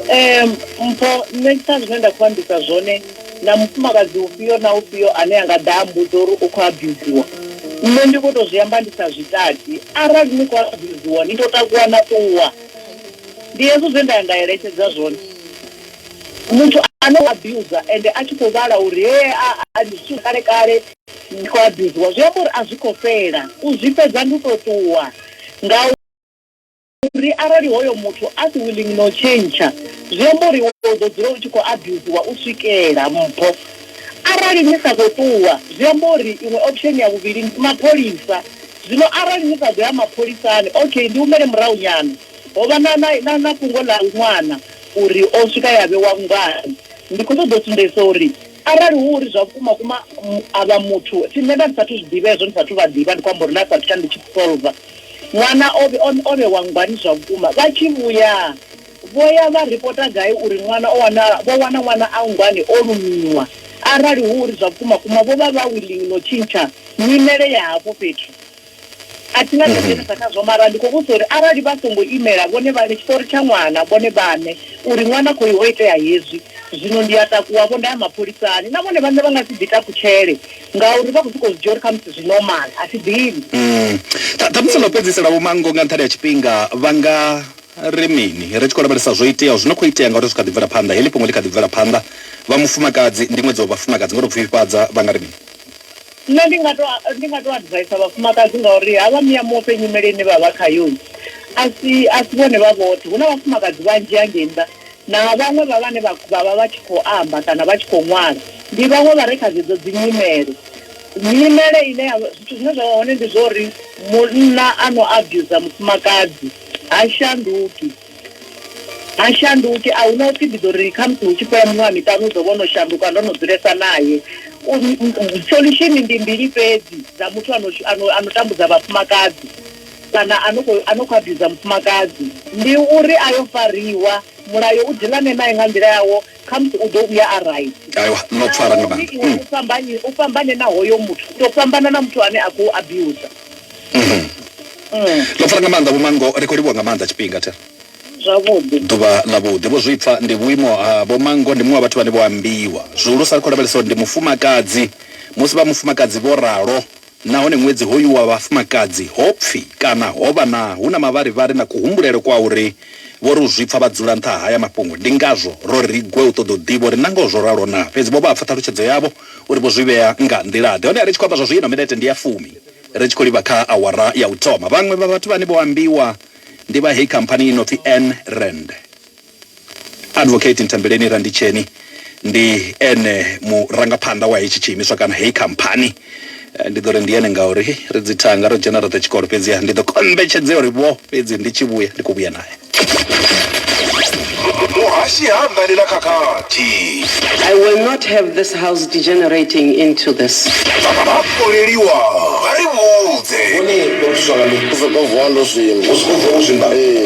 B: um mpho
H: nṋe sa zwine nda khou ambisa zwone na mufumakadzi ufhio na ufhio ane a nga ḓa a mbudza uri u khou abusiwa nṋe ndi khou tou zwi amba ndi sa zwi tati arali ni khou abusiwa ni tou takuwa na ṱuwa ndi hezwo zwe nda ya nda eletshedza zwone muthu ane o abusa ende a tshi khou vhala uri he a ndi zwithu kale kale ndi khou abusiwa zwi amba uri a zwi khou fhela u zwi fhedza ndi u tou ṱuwa nga uri arali hoyo muthu a si willing no tshentsha zwi amba uri u ḓo dzula u tshi khou abusiwa u swikela mpho arali ni sa khou ṱuwa zwi amba uri iṅwe option ya vhuvhili ndi mapholisa zwino arali ni sa ḓo ya mapholisani okay ndi humele murahu nyana ho vha na na na na fhungo ḽa ṅwana uri o swika ya vhewa nngani ndi khou ṱoḓa u sumbedzisa uri Arali hu uri zwa vhukuma vhukuma a vha muthu, thi nṋe nda ndi sathu zwi ḓivha hezwo, ndi sathu vha ḓivha, ndi khou amba uri nda sathu ya ndi tshi solver ṅwana o o vhewa nngwani zwa vhukuma, vha tshi vhuya vho ya vha ripota gai uri ṅwana o wana vho wana ṅwana a nngwani o lumiwa, arali hu uri zwa vhukuma vhukuma vho vha vha willing no tshintsha nyimele ya hafho fhethu. A thi na tsha u mhm. dzhenisa khazwo mara ndi khou vhusa uri arali vha songo imela vhone vhane tshiṱori tsha ṅwana vhone vhane uri ṅwana khoyu ho itea hezwi zwino ndi a takuwavho nda ya mapholisani na vhone vhane vha nga si ḓi takutshele ngauri vha khou sokou zwi dzhia uri khamusi zwi normal a thi ḓivhi mm. ṱhamusi
B: ndo fhedzisela vho manngo nga nṱhani ha tshifhinga vha nga ri mini ri tshi khou lavhelesa zwo iteaho zwi no khou itea ngauri zwi kha ḓi bvela phanḓa heḽi fhungo ḽi kha ḓi bvela phanḓa vha mufumakadzi ndi ṅwedzi wa vhafumakadzi nga tou pfifhifhadza vha nga ri mini Nṋe ndi
H: nga to ndi nga to adviser vhafumakadzi ngauri ha vha miya muofhe nyimele ine vha vha khayo a si a si vhone vha vhoṱhe hu na vhafumakadzi vhanzhi hangei nnḓa na vhaṅwe vha vhane vha vha vha vha tshi khou amba kana vha tshi khou ṅwala ndi vhaṅwe vha re kha dzedzo dzi nyimele. Nyimele ine ya zwithu zwine zwa vha hone ndi zwori munna a no abuser mufumakadzi ha shanduki. Ha shanduki, a hu na u pfi ndi ḓo ri khamusi hu tshi fhela miṅwaha miṱanu u ḓo vha o no shanduka, ndo no dzulesa nae. Solution ndi mbili fhedzi dza muthu a no a no a no tambudza vhafumakadzi kana a no khou a no khou abuser mufumakadzi, ndi uri a yo fariwa, mulayo u dilane nae nga nḓila yawo, khamusi u ḓo vhuya a right aiwa no pfara nga
B: maanḓa iwe mm. u fhambane u fhambane na
H: hoyo muthu u tou fhambana na muthu ane a khou abusa mm-hmm. mm.
B: ḽo pfara nga maanḓa vhumango ri khou livhuwa nga maanḓa tshifhinga thera zwavhuḓi
H: ḓuvha ḽa vhuḓi
B: vho zwipfa ndi vhuimo ha ah, vhomango ndi muṅwe wa vhathu vhane vho ambiwa zwihulusa ri khou lavhelesa uri ndi mufumakadzi musi vha mufumakadzi vho ralo Nahone ṅwedzi hoyu wa vhafumakadzi ho pfi kana ho vha na hu na mavharivhari na kuhumbulele kwa uri vho ri u zwi pfa vha dzula nṱha ha haya mafhungo. Ndi ngazwo ro ri gwe u ṱoḓa u ḓivha uri nangoho zwo ralo naa. Fhedzi vho vha vha pfa ṱhalutshedzo yavho uri vho zwi vhea nga nḓila-ḓe. Honeha ri tshi khou amba zwa zwino, minete ndi ya fumi ri tshi khou livha kha awara ya u thoma, vhaṅwe vha vhathu vhane vho ambiwa ndi vha heyi khamphani i no pfi Anne Rand. Advocate Ntembeleni Randitsheni ndi ene murangaphanḓa wa hetshi tshiimiswa kana heyi khamphani. Ndi ḓo ri ndi ene ngauri ri dzi thanga, ro dzhena roṱhe tshikolo, fhedziha ndi ḓo kombetshedzea uri vho fhedzi ndi tshi vhuya ndi khou vhuya nae. Muhashi ha anḓani na
D: khakhathi. I will not have this house degenerating into this. Vhakoleliwa vha ri vhudze. Vhone vha thuswa nga mini? Ndo sokou vuwa ndo zwimba. Wo sokou vuwa wo zwimba? Ee.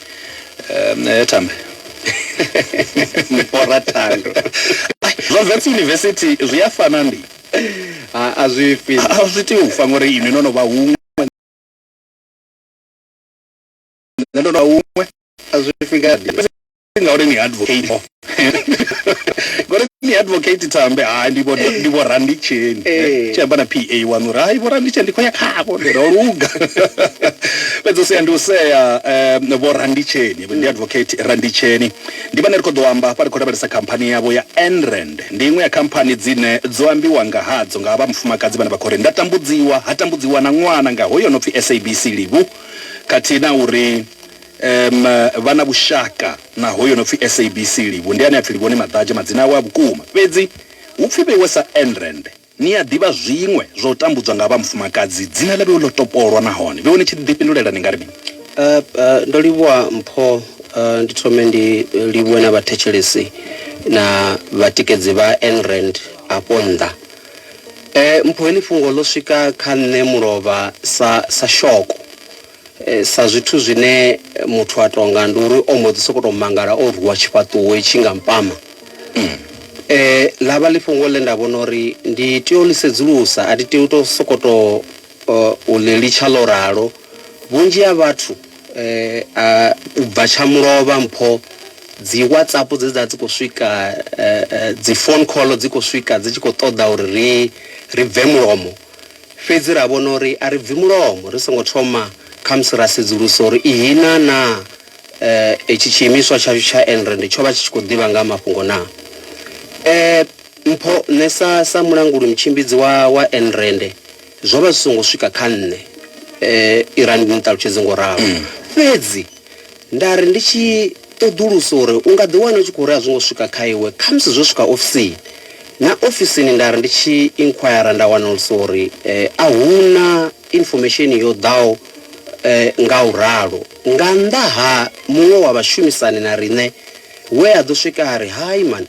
B: um eh, tambe mupora thando zwa vets university zwi a fana ndi a zwi fi a zwi tea u fa ngori inwi no no vha huṅwe nṋe ndo no vha huṅwe a zwi fi ngadi ngauri ni advocate ngori ni advocate tambe hai ndi vho randitsheni eh. tshi amba na pa wanu uri hai vho randitsheni ndi khou ya khavho ndi ro luga fhedzi u sea ndi u sea um vho randitsheni ndi mm. advocate randitsheni ndi vhane ri khou ḓo amba hafha ri khou lavhelesa khamphani yavho ya enrand ndi iṅwe ya khamphani dzine dzo ambiwa nga hadzo nga vha mufumakadzi vhane vha khou ri nda tambudziwa ha tambudziwa na ṅwana nga hoyo no pfi sabc livhu khathihi na uri um vha na vhushaka Naho yo no pfi SABC Livhu, ndi ane a pfi Livhoni Maḓadzhe madzina awe a vhukuma. Fhedzi hu pfi vheiwe sa Enrand. Ni a ḓivha zwiṅwe zwa u tambudzwa nga vha mufumakadzi dzina ḽa vheiwe ḽo topolwa nahone vheiwe ni tshi ḓifhindulela ni nga ri mini? Ndo livhuwa
K: mpho, ndi thome ndi livhuwe na vhathetshelesi na vhatikedzi vha Enrand afho nnḓa. Mpho heḽi fhungo ḽo swika kha nṋe mulovha sa sa shoko. Sa zwithu zwine muthu a tou nga ndi uri o mbo ḓi sokou tou mangala o rwiwa tshifhaṱuwo itshi nga mpama. Ḽa vha ḽi fhungo ḽe nda vhona uri ndi tea u ḽi sedzulusa, a thi tei u tou sokou tou u ḽi litsha ḽo ralo. Vhunzhi ha vhathu a u bva tsha mulovha mpho dzi WhatsApp dze dza dzi khou swika, dzi phone call dzi khou swika dzi tshi khou ṱoḓa uri ri ri bve mulomo. Fhedzi ra vhona uri a ri bvi mulomo ri songo thoma khamusi ra sedzulusa uri ihina naa hetshi tshiimiswa tshashu tsha Enrand tsho vha tshi tshi khou ḓivha nga ha mafhungo naa. Ee, mpho, nṋe sa, sa mulanguli-mutshimbidzi wa, wa Enrand, zwo vha zwi songo swika kha nṋe, Irani ni ṱalutshedze nga u ralo. Fhedzi. Nda ri ndi tshi ṱoḓulusa uri u nga ḓiwana u tshi khou ri a zwo ngo swika kha iwe, khamusi zwo swika ofisini. Na ofisini nda ri ndi tshi inquire nda wanulusa uri a hu na information yo ḓaho nga u ralo. Nga nnḓa ha muṅwe wa vhashumisani na riṋe we a ḓo swika a ri, Hai man,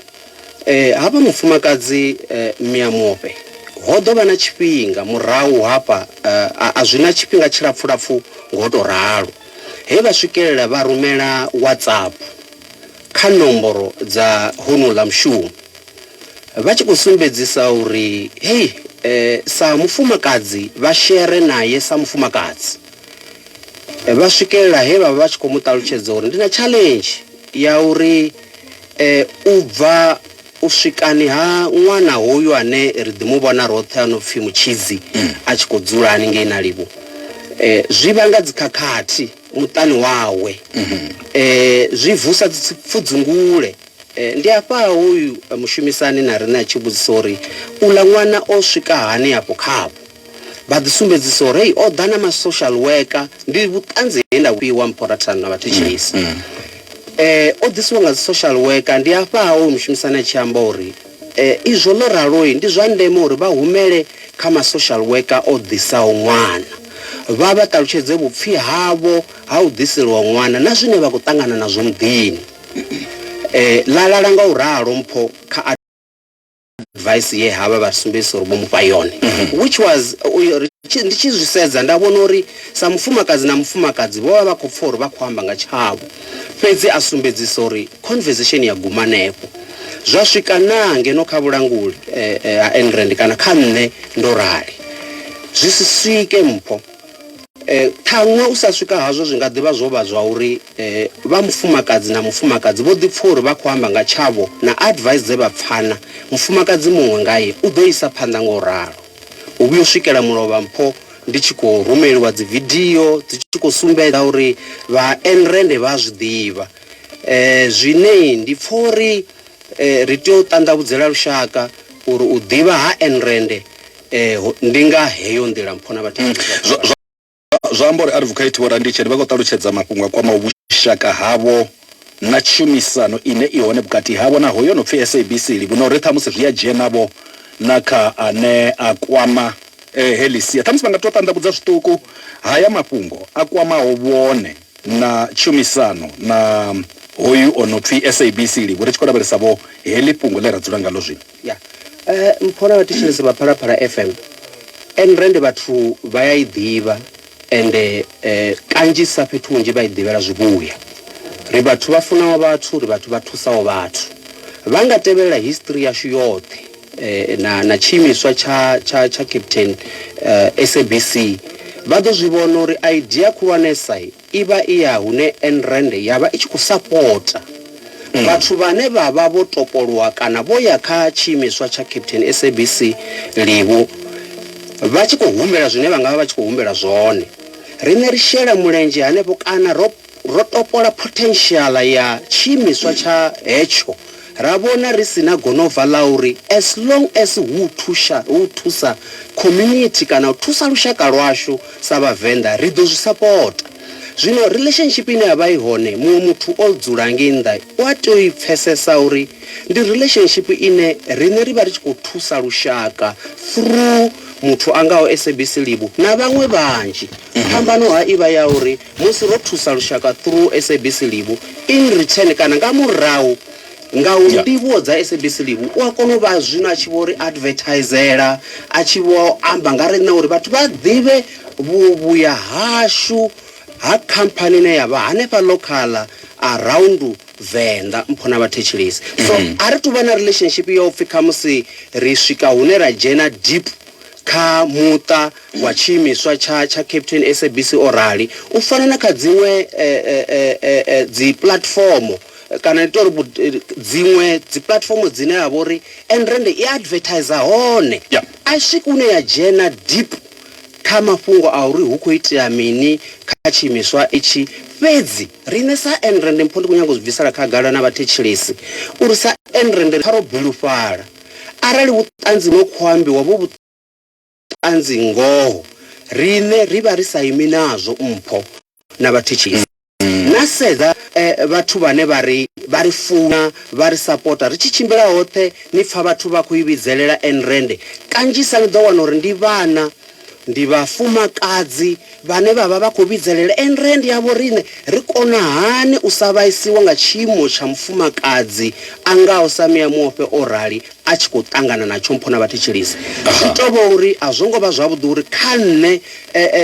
K: hafha mufumakadzi Miamofhe, ho ḓo vha na tshifhinga murahu hafha, a zwi na tshifhinga tshilapfulapfu nga u tou ralo. He vha swikelela vha rumela WhatsApp kha nomboro dza honouḽa mushumo vha tshi khou sumbedzisa uri hei sa mufumakadzi vha shere nae sa mufumakadzi. Vha swikelela he vha vha vha tshi khou mu ṱalutshedza uri ndi na challenge ya uri u bva U swikani ha ṅwana hoyu ane ri ḓi mu vhona roṱhe a no pfi Mutshidzi a tshi khou dzula haningei na Livhu zwi vhanga dzikhakhathi muṱani wawe, zwi vusa dzipfudzungule. Ndi afha hoyu mushumisani na riṋe a tshi vhudzisa uri, Uḽa ṅwana o swika hani afho khavho? Vha ḓi sumbedzisa uri hei oḓa na ma social worker ndi vhuṱanzi he nda vhufhiwa mphorathano na vhathetshelesi. Mm, mm. Eh o ḓisiwa nga dzi social worker ndi afha ha o mushumisani a tshi amba uri eh izwo ḽo raloi ndi zwa ndeme uri vha humele kha ma social worker o ḓisaho ṅwana vha vha ṱalutshedze vhupfi havho ha u ḓiseliwa ṅwana na zwine vha khou ṱangana nazwo muḓini. Eh ḽa lala nga u ralo mpho kha advice ye havha vha sumbedzisa uri vho mufha yone mhm. which was uyo ndi tshi zwi sedza nda vhona uri sa mufumakadzi na mufumakadzi vho vha vha khou pfa uri vha khou amba nga tshavho fhedzi a sumbedzisa uri conversation ya guma hanefho zwa swika naa ngeno kha vhulanguli eh, eh, ha enrand kana kha nṋe ndo rali zwi si swike mpho Ṱhaṅwe u sa swika hazwo zwi nga ḓivha zwo vha zwa uri vha mufumakadzi na mufumakadzi vho ḓi pfa uri vha khou amba nga tshavho na advice dze vha pfana mufumakadzi muṅwe ngae u ḓo isa phanḓa nga u ralo. U vhuya u swikela mulovha mpho ndi tshi khou rumeliwa dzi video dzi tshi khou sumbedza uri vha Enrende vha a zwi ḓivha zwine ndi pfa uri ri tea u ṱanḓavhudzela lushaka uri u ḓivha ha Enrende Eh, ndi nga heyo nḓila mpho na vhathu mm.
B: Zwa amba uri Advocate Vho Randitsheni vha khou ṱalutshedza mafhungo a kwamaho vhushaka havho na tshumisano ine i hone vhukati havho na hoyo no pfi SABC livhi na uri ṱhamusi zwi a dzhena vho na kha ane a kwama eh, heḽi sia. Ṱhamusi vha nga tou ṱanḓavhudza zwiṱuku haya mafhungo a kwamaho vhone na tshumisano na hoyu o no pfi SABC livhi ri tshi khou lavhelesa vho heḽi fhungo ḽe ra dzula ngalo zwino. Ya eh
K: mpho na vhathetshelesi vha Phalaphala FM and rende vhathu vha ya i ḓivha and eh kanzhisa fhethu hunzhi vha i ḓivhela zwivhuya ri vhathu vha funaho vhathu ri vhathu vha thusaho vhathu vha nga tevhelela history yashu yoṱhe eh na na tshiimiswa tsha tsha tsha captain eh SABC vha ḓo zwi vhona uri idea khulwanesa i vha i ya hune Enrand ya vha i tshi khou sapota vhathu vhane vha vha vho topolwa kana vho ya kha tshiimiswa tsha Captain SABC Livhu vha tshi khou humbela zwine vha nga vha vha tshi khou humbela zwone. Riṋe ri shela mulenzhe hanefho kana ro ro topola potential ya tshiimiswa tsha hetsho. Ra vhona ri si na gonova ḽa uri as long as hu u thusha, hu u thusa community kana u thusa lushaka lwashu sa Vhavenḓa ri ḓo zwi sapota. Zwino relationship ine ya vha i hone muṅwe muthu o dzula ngei nnḓa u a tea u i pfesesa uri ndi relationship ine riṋe ri vha ri tshi khou thusa lushaka through muthu a ngaho SABC Libu na vhaṅwe vhanzhi. Phambano ha i vha ya uri Musi ro thusa lushaka through SABC Livu in return kana nga murahu nga u ndivhuwo dza SABC Livu u a kona u vha zwino a tshi vho ri advertisela, a tshi vho amba nga riṋe uri vhathu vha ḓivhe vhuvhuya hashu ha khamphani ine ya vha hanefha local around Venḓa, mpho na vhathetshelesi. So a ri tu vha na relationship ya u pfi khamusi ri swika hune ra dzhena deep. Kha muṱa wa tshiimiswa tsha tsha Capetown SABC o rali. U fana na kha dziṅwe dzi puḽatifomo kana ndi tori dziṅwe dzi puḽatifomo dzine ha vha uri Nrnd i advertiser hone a i swiki hune ya dzhena deep kha mafhungo a uri hu kho itea mini kha tshiimiswa itshi, fhedzi riṋe sa Nrnd mpho ndi kho nyaga u zwi bvisela khagala na vhathetshelesi uri sa Nrnd kha ro bilufhala. Arali vhuṱanzi no khou ambiwa vhu vhuṱanzi ngoho, riṋe ri vha ri sa imi nazwo mpho na vhathetshisi. Na sedza vhathu vhane vha ri vha ri funa, vha ri sapota. Ri tshi tshimbila hoṱhe ni pfa vhathu vha khou i vhidzelela Ayn Rand. Kanzhisa ni ḓo wana uri ndi vhana. Ndi vhafumakadzi vhane vha vha vha khou vhidzelela and re ndi avho riṋe. Ri kona hani u sa vhaisiwa nga tshiimo tsha mufumakadzi a ngaho Samia Muofhe o rali a tshi khou ṱangana na tshompho na vhathetshelesi? Zwi tou vha uri a zwo ngo vha zwavhuḓi uri kha nṋe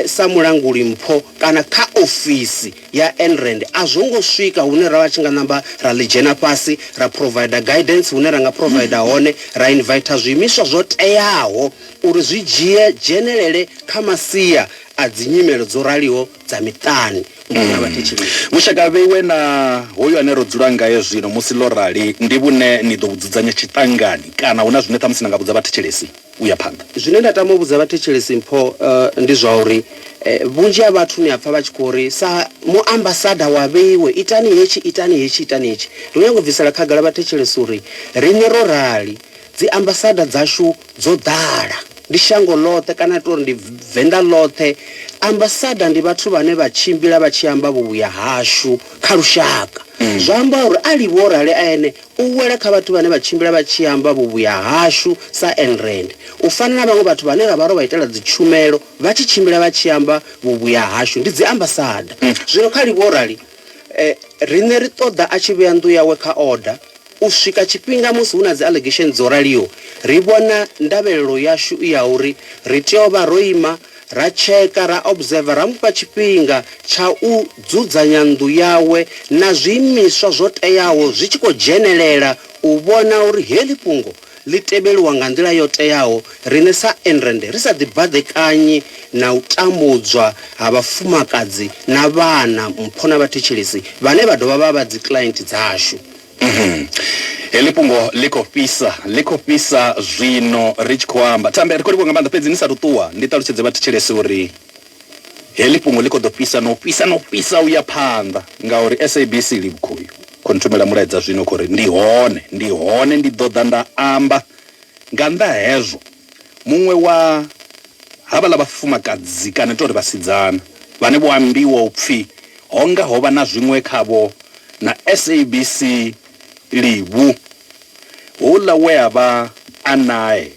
K: sa mulanguli-mpho kana kha ofisi ya NREND a zwo ngo swika hune ra vha tshi nga namba ra ḽi dzhena fhasi ra provider guidance hune ra nga provider hone ra inviter zwiimiswa zwo teaho uri zwi dzhie dzhenelele kha masia a dzinyimelo dzo raliho dza miṱani musi na vhathetshelesi. Vhushaka vheiwe na
B: hoyu ane ro dzula ngae zwino musi ḽo rali ndi vhune ni ḓo vhu dzudzanya tshiṱangani kana hu na zwine ṱhamusi na nga vhudza vhathetshelesi u ya phanḓa? Zwine nda tama u vhudza
K: vhathetshelesi mpho ndi zwa uri vhunzhi ha vhathu ni a pfa vha tshi khou ri, Sa muambasada wa vheiwe, itani hetshi, itani hetshi, itani hetshi. Ri khou nyanga u bvisela khagala vhathetshelesi uri riṋe ro rali. Dziambasada dzashu dzo ḓala. Ndi shango ḽoṱhe kana ri tou ri ndi Venḓa ḽoṱhe. Ambasada ndi vhathu vhane vha tshimbila vha tshi amba vhuvhuya hashu kha lushaka. Zwa amba uri a livhe o rali a ene u wela kha vhathu vhane vha tshimbila vha tshi amba vhuvhuya hashu sa Enrand. U fana na vhaṅwe vhathu vhane ra vha ro vha itela dzitshumelo vha tshi tshimbila vha tshi amba vhuvhuya hashu, ndi dziambasada. Zwino kha livhe o rali. E, riṋe ri ṱoḓa a tshi vhea nnḓu yawe kha order. U swika tshifhinga musi hu na dzi allegation dzo raliho, ri vhona ndavhelelo yashu i ya uri ri tea u vha ro ima ra tsheka, ra observer, ra mu fha tshifhinga tsha u dzudzanya nnḓu yawe na zwiimiswa zwo teaho zwi tshi khou dzhenelela u vhona uri heḽi fhungo ḽi tevhelwa nga nḓila yo teaho, riṋe sa Enrand ri sa ḓibaḓekanyi na u tambudzwa ha vhafumakadzi na vhana, mpho na vhathetshelesi vhane vha dovha vha vha dzikiḽaenti dzashu.
B: Heḽi fhungo ḽi khou fhisa, ḽi khou fhisa zwino ri tshi khou amba. Thambi, a thi khou livhuwa nga maanḓa, fhedzi ni sa athu ṱuwa, ndi ṱalutshedze vhathetshelesi uri. Heḽi fhungo ḽi khou ḓo fhisa na u fhisa na u fhisa u ya phanḓa ngauri SABC Livhukhuyu khou nthumela mulaedza zwino khou ri ndi hone, ndi hone ndi ḓo ḓa nda amba nga nnḓa ha hezwo. Muṅwe wa havhaḽa vhafumakadzi kana ndi tou ri vhasidzana vhane vho ambiwa u pfi ho nga ho vha na zwiṅwe khavho na SABC Livhu, houḽa we a vha a nae.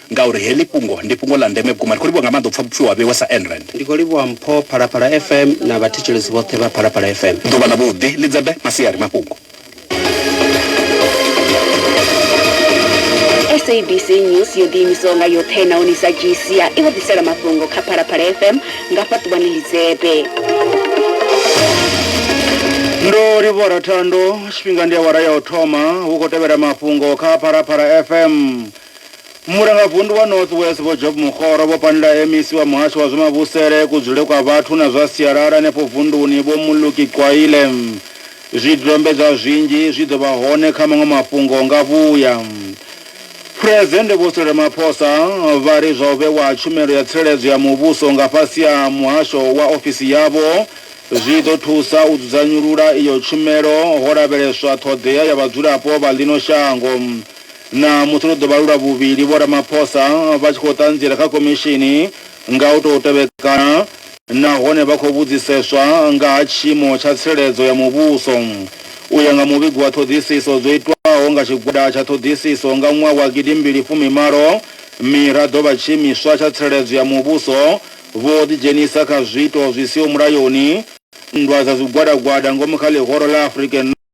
B: ngauri heḽi fhungo ndi fhungo ḽa ndeme vhukuma. Ri khou livhuwa nga maanḓa u pfa vhupfiwa ha Vhewa sa Ayn Rand. Ndi khou livhuwa mpho
K: Phalaphala FM na vhathetshelesi vhoṱhe vha Phalaphala FM. Ḓuvha ḽavhuḓi, Lidzebe,
B: Masiari, Mafhungo.
L: SABC News yo ḓiimisaho nga yoṱhe nahone i sa dzhii sia i vho ḓisela mafhungo kha Phalaphala FM nga fhaṱuvhani Lidzebe.
G: Ndo livhora thando tshifhinga ndi awara ya u thoma hu khou tevhela mafhungo kha Phalaphala FM Murangavundu wa North West Vho Job Mokgoro vho pandela MEC wa Muhasho wa zwa Mavhusele, Kudzule kwa Vhathu na zwa Sialala henefho vunduni Vho Muluki Qwaile. Zwidodombedzwa zwinzhi zwi ḓo vha hone kha maṅwe mafhungo nga vhuya. Phresidennde Vho Cyril Ramaphosa vha ri zwa u vhewa ha tshumelo ya tsireledzo ya muvhuso nga fhasi ha muhasho wa ofisi yavho zwi ḓo thusa u dzudzanyulula iyo tshumelo ho lavheleswa ṱhoḓea ya vhadzulapo vha ḽino shango Ṋamusi ro ḓo vha lu lwa vhuvhili Vho Ramaphosa vha tshi khou ṱanziela kha khomishini nga u tou tevhekana nahone vha khou vhudziseswa nga ha tshiimo tsha tsireledzo ya muvhuso. U ya nga muvhigo wa ṱhoḓisiso dzo itwaho nga tshigwada tsha ṱhoḓisiso nga ṅwaha wa gidi mbili fumi malo, miraḓo vha tshiimiswa tsha tsireledzo ya muvhuso vho ḓidzhenisa kha zwiito zwi siho mulayoni, nndwa dza zwigwadagwada ngomu kha ḽihoro ḽa African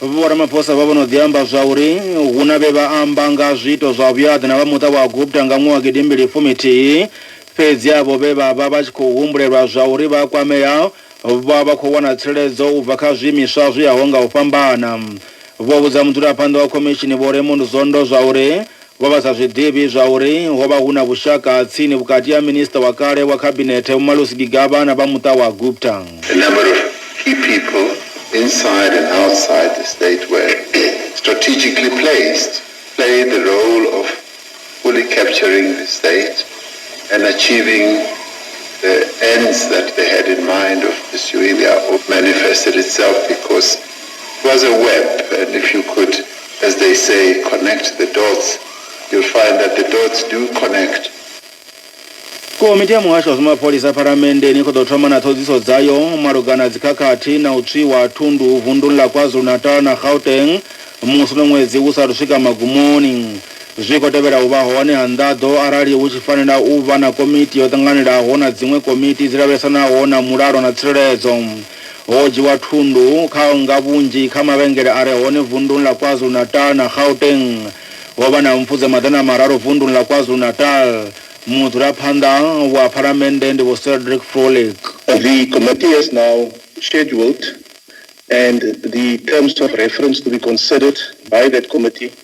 M: Vho
G: Ramaphosa vha vho no ḓi amba zwa uri hu na vhe vha amba nga ha zwiito zwa vhuaḓa na vha muṱa wa Gupta nga nwaha gidi mbili fumi thihi, fhedzi avho vhe vha vha vha tshi khou humbulelwa zwa uri vha a kwamea vha vha khou wana tsireledzo u bva kha zwiimiswa zwo yaho nga u fhambana. Vho vhudza mudzulaphanḓa wa khomishini Vho Raymond Zondo zwa uri Vho vha sa zwi ḓivhi zwa uri ho vha hu na vhushaka ha tsini vhukati ha Minisiṱa wa kale wa Khabinethe Vho Malus Gigaba na vha muṱa wa Gupta. A number of
N: key people inside and outside the state were strategically placed to play the role of fully capturing the state and achieving the ends that they had in mind of pursuing their manifested itself because it was a web and if you could as they say, connect the dots, you'll find that the dots do connect.
G: komiti ya muhasho wa zwamapholisa phalamenndeni i khou ḓo thoma na ṱhoḓisiso dzayo malugana dzikhakhathi na u tswiwa ha thundu vunduni ḽa kwazulu-natal na gauteng musi no ṅwedzi hu sathu swika magumoni zwi khou tevhela u vha hone ha nḓaḓo arali hu tshi fanela u vha na komiti yo ṱanganelaho na dziṅwe komiti dzi lavhelesanaho na mulalo na tsireledzo Ho dzhiwa thundu kha nga vhunzhi kha mavhengele a re hone vunḓuni ḽa KwaZulu-Natal na Gauteng. Ho vha na mpfu dza maḓana mararu vunḓuni ḽa KwaZulu-Natal. Mudzulaphanḓa wa Phalamennde ndi Vho Cedric Frolick. The committee
O: has now scheduled and the terms of reference to be considered by that committee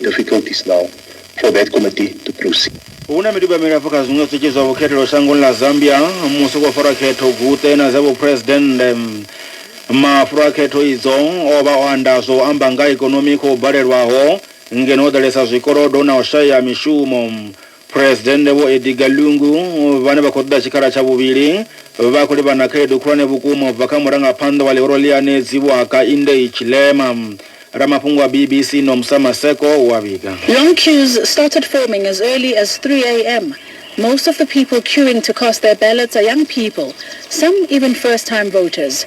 O: difficulties now for that committee to proceed. hu na miduba milapfu
G: kha zwiṅwe zwitshi zwa vhukhethelo shangoni ḽa zambia musi khou farwa khetho guṱe na dza vhuphuresidennde mafulo a khetho idzo o vha o anda zwo amba nga ikonomi khou balelwaho ngeno ho ḓalesa zwikolodo na u shaya mishumo Phresidennde Vho Edgar Lungu vhane vha khou ṱoḓa tshikhala tsha vhuvhili vha khou livhana na khaedu khulwane vhukuma u bva kha murangaphanḓa wa ḽihoro ḽi anedzi Vho Hakaindei Chilema. Ramafhungo wa BBC Nomsa Maseko u a vhiga. Long queues
P: started forming as early as 3am, most of the people queuing to cast their ballots are young people, some even first time voters.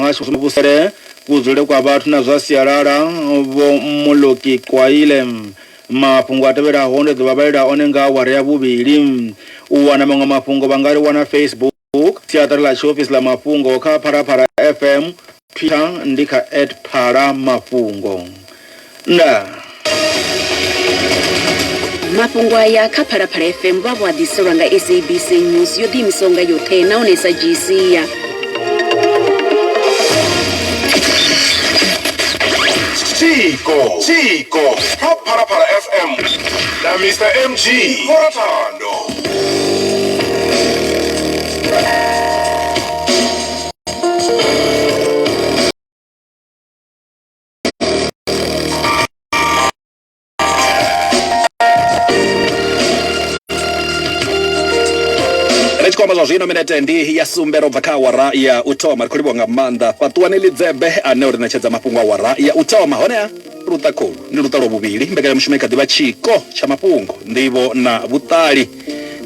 G: muhasho wa vhusele kudzule kwa vhathu na zwa sialala vho Mmoloki Kwaile. Mafhungo a tevhelaho ndi ḓo vha vhalela one nga awara ya vhuvhili. U wana maṅwe mafhungo vha nga ri wana Facebook, siaṱari ḽa tshiofisi ḽa mafhungo kha Phalaphala FM, Twitter ndi kha at Phala Mafhungo.
L: Ndaa. Mafhungo aya kha Phalaphala FM vha vho a ḓiselwa nga SABC News yo ḓiimisaho nga yoṱhe nahone sa dzhii sia.
C: Chiko, Chiko, kha Phalaphala FM na Mr MG Morathando.
B: tshikwama zwa zwino minete ndi ya sumbe ro bva kha awara ya u thoma ri khou livhiwa nga maanḓa fhaṱuwani lidzebe ane uri ṋetshedza mafhungo awara ya u thoma honeha luṱa khulu ndi luṱa lwa vhuvhili mbekanyamushumo i kha ḓivha tshiko tsha mafhungo nḓivho na vhuṱali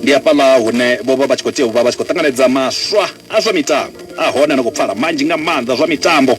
B: ndi afhaḽa hune vho vha vha tshi khou tea u vha vha tshi khou ṱanganedza maswa a zwa mitambo a hone no khou pfala manzhi nga maanḓa zwa mitambo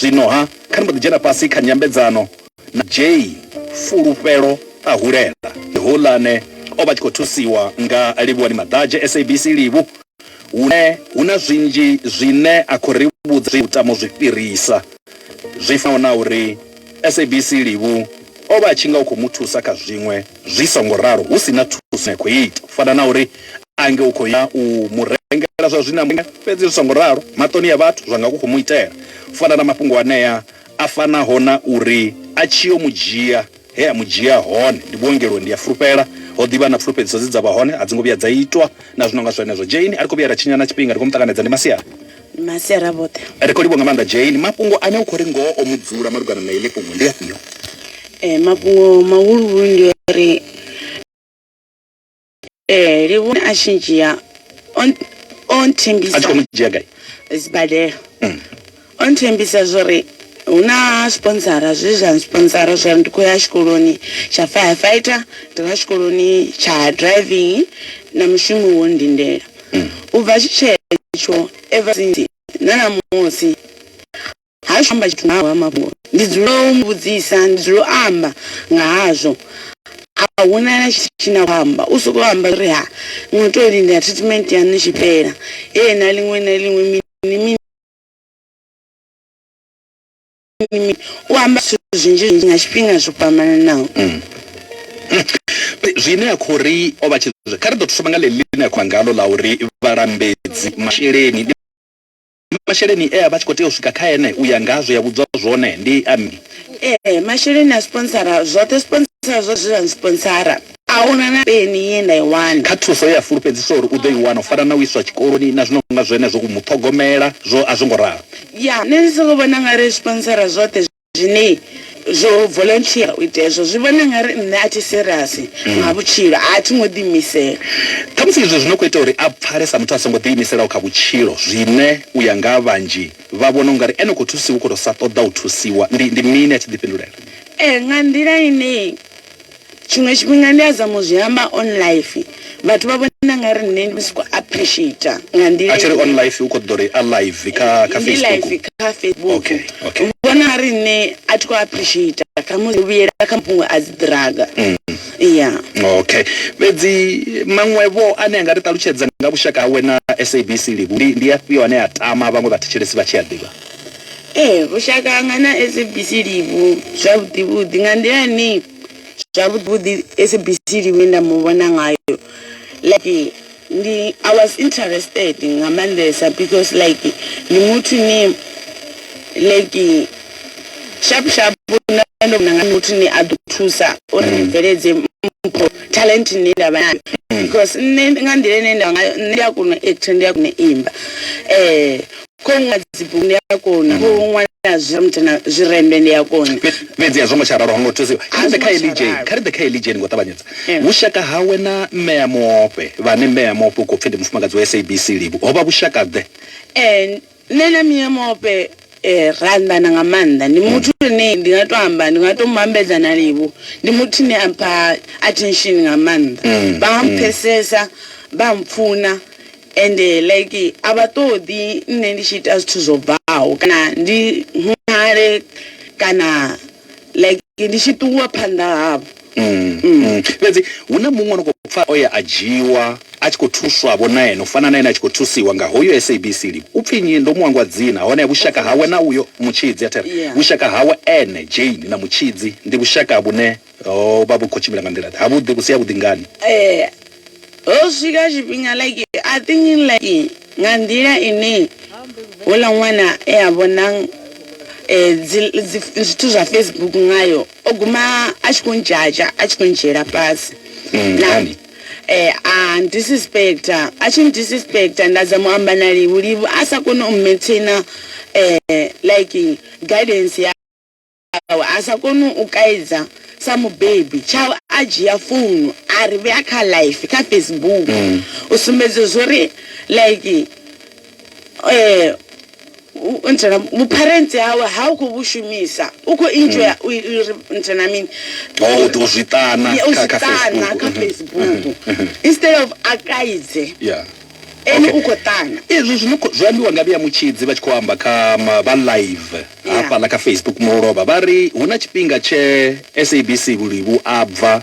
B: Zwino-ha, kha ni mbo ḓi dzhena fhasi kha nyambedzano na Jay. Fulufhelo a hulela. Ndi houḽa ane o vha a tshi khou thusiwa nga Livhuwani Maḓadzhe, SABC Livhu, hune hu na zwinzhi zwine a khou ri vhudza zwe Mutamo zwi fhirisa, zwi fanaho na uri SABC Livhu o vha a tshi nga u khou mu thusa kha zwiṅwe zwi songo ralo hu si na thuso ine ya khou ita, u fana na uri a nge u khou ya u mu rengela zwa zwiṋameli, fhedzi zwi songo ralo maṱoni a vhathu zwa nga ku khou mu itela. Fana na mafhungo anea a fanaho na uri a tshi yo mu dzhia he a mu dzhia hone ndi vhuongeloni, ndi a fulufhela ho ḓi vha na pfulufhedziso dze dza vha hone a dzi ngo vhuya dza itwa na zwi no nga zwenezwo. Jane, a ri khou vhuya ra tshinya na tshifhinga, ri khou mu ṱanganedza, ndi masiari. Ndi masiari
D: a vhoṱhe. Ri khou livhuwa nga maanḓa Jane.
B: Mafhungo ane u khou ri ngoho o mu dzula malugana na heḽi fhungo ndi afhio? Ee, mafhungo
D: mahuluhulu ndi a uri. ee livhone a tshi ndzhia o n- o a tshi khou nthembisa mu dzhia gai
B: sibadela
D: o nthembisa zwori hu na sponsora zwe zwa sponsora zwori ndi khou ya tshikoloni tsha firefighter ndi nga tshikoloni tsha driving na mushumo wo ndindela u bva tshi tshetsho ever since na namusi Ha athu amba tshithu nga hayo mafhungo. Ndi dzula u mu vhudzisa, ndi dzula u amba nga hazwo. A hu na na tshithu tshine a khou amba, u sokou amba zwa uri ha ni khou tea u lindela treatment yaṋu i tshi fhela, heyi na ḽiṅwe na ḽiṅwe mini mini. U amba zwithu zwinzhi zwinzhi nga tshifhinga zwo fhambananaho.
B: Zwine a khou ri o vha tshi, kha ri ḓo thoma nga ḽeḽi ḽine a khou amba ngaḽo ḽa uri vhalambedzi masheleni. Naa masheleni e a vha a tshi khou tea u swika kha ene u ya nga ha zwe ya vhudzwa zwone ndi a mini? Ee, masheleni
D: a sponsora zwoṱhe. Sponsora zwa zwe zwa nsponsora. A hu na na peni ye nda i wana. Kha thuso ye a fulufhedziswa
B: uri u ḓo i wana, u fana na u iswa tshikoloni na zwi no nga zwenezwo, u mu ṱhogomela, zwo a zwo ngo ralo. Ya, nṋe ndi
D: sokou vhona u nga ri sponsora zwoṱhe. zwine zwo volunteer u ita hezwo zwi vhona nga ri nṋe a thi serious mm. nga vhutshilo a thi ngo ḓiimisela khamusi izwo
B: zwi no khou ita uri a pfale sa muthu a songo ḓiimiselaho kha vhutshilo zwine u ya nga vhanzhi vha vhona u nga ri ene u khou thusiwa u khou tou sa ṱoḓa u thusiwa ndi ndi mini a tshi ḓifhindulela ee nga nḓila
D: ine Tshiṅwe tshifhinga ndi a zama u zwi amba on life vhathu vha vhona ngari nṋe ndi soko appreciator
B: nga nḓila atshiri on
D: life u
B: kho ṱoḓa uri a
D: live
B: kha kha
D: Facebook
B: kha
Q: Facebook okay okay u vhona
B: ngari nṋe
Q: a thi kho appreciator kha musi u vhuyela kha mafhungo a dzi ḓiraga ya okay
B: fhedzi maṅwe vho ane a nga ri ṱalutshedza nga vhushaka hawe na SABC live ndi ndi afhio ane a tama vhaṅwe vha thetshelesi vha tshi a ḓivha. Ee, vhushaka
Q: hanga na SABC ndi vhu zwavhuḓi vhuḓi nga nḓila ine zwavhuḓi vhuḓi SABC Livhi ye nda muvhona ngayo like ndi I was interested nga maanḓesa because like ndi muthu ne like sharp sharp nda ndo vhona nga muthu ane a ḓo thusa uri ndi bveledze mpho talent ine ndavha nayo because nṋe nga nḓila ine nda ngayo nṋe ndi a kona u actor ndi a kona u imba . Khou ṅwala dzibugu ndi a kona, khou mm. ṅwala zwiremuthe na zwirembe ndi a kona. Fhedzi a zwo ngo tsha ralo,
B: ho ngo thusiwa. Kha ri ḓe kha Elija, kha ri ḓe kha Elija ni ngo ṱavhanyedza. Vhushaka hawe na mme ya muofhe, vhane mme ya muofhe u khou pfi ndi mufumakadzi wa SABC Livhu, ho vha vhushaka-ḓe? Ee, nṋe
Q: na mme ya muofhe eh, ra anḓana nga maanḓa. Ndi muthu mm. ane ndi nga tou amba, ndi nga tou mu ambedza na Livhu. Ndi muthu ane a mpha attention nga maanḓa. Mm. Vha mpfhesesa, vha mpfuna. ende like a vha ṱoḓi nṋe ndi tshi ita zwithu zwo bvaho kana ndi ṅwale kana like ndi tshi ṱuwa phanḓa havho. Mm, mm. mm.
B: Fhedzi hu na muṅwe no khou pfa o ya a dzhiwa a tshi khou thuswa vho na ene u fana na ene a tshi khou thusiwa nga hoyo SABC li u pfi nnyi ndo mu hangwa dzina hone vhushaka hawe na uyo mutshidzi a thera vhushaka hawe ene Jane na mutshidzi ndi vhushaka vhune Ho vha vhu khou tshimbila nga nḓila-ḓe? Havhuḓi, vhu si havhuḓi ngani? Ee, ho
Q: swika tshifhinga like a thinking like nga nḓila ine houḽa ṅwana e a vhona dzi zwithu zwa Facebook ngayo o guma a tshi khou ndzhadzha a tshi khou ndzhiela fhasi nani a disrespecta a tshi disrespecta nda dza mu amba na livhu livhu a sa kone u maintainer like guidance ya awe a sa koni u kaidza sa mubebi tshawe a dzhia founu a ri vhea kha life kha Facebook mm. u sumbedza zwori like eh ntsena vhuparentsi hawe ha u khou vhu shumisa u khou enjoy mm. u ri ntsena mini oh, u
B: ḓo zwi ṱana kha
Q: Facebook mm-hmm. Mm-hmm. instead of a kaidze yeah Ene u khou ṱana. Izwi zwi
B: khou zwi ambiwa nga Vhea Mutshidzi vha tshi khou amba kha vha live hafhaḽa kha Facebook Mulovha vha ri hu na tshifhinga tshe SABC vhulivhu a bva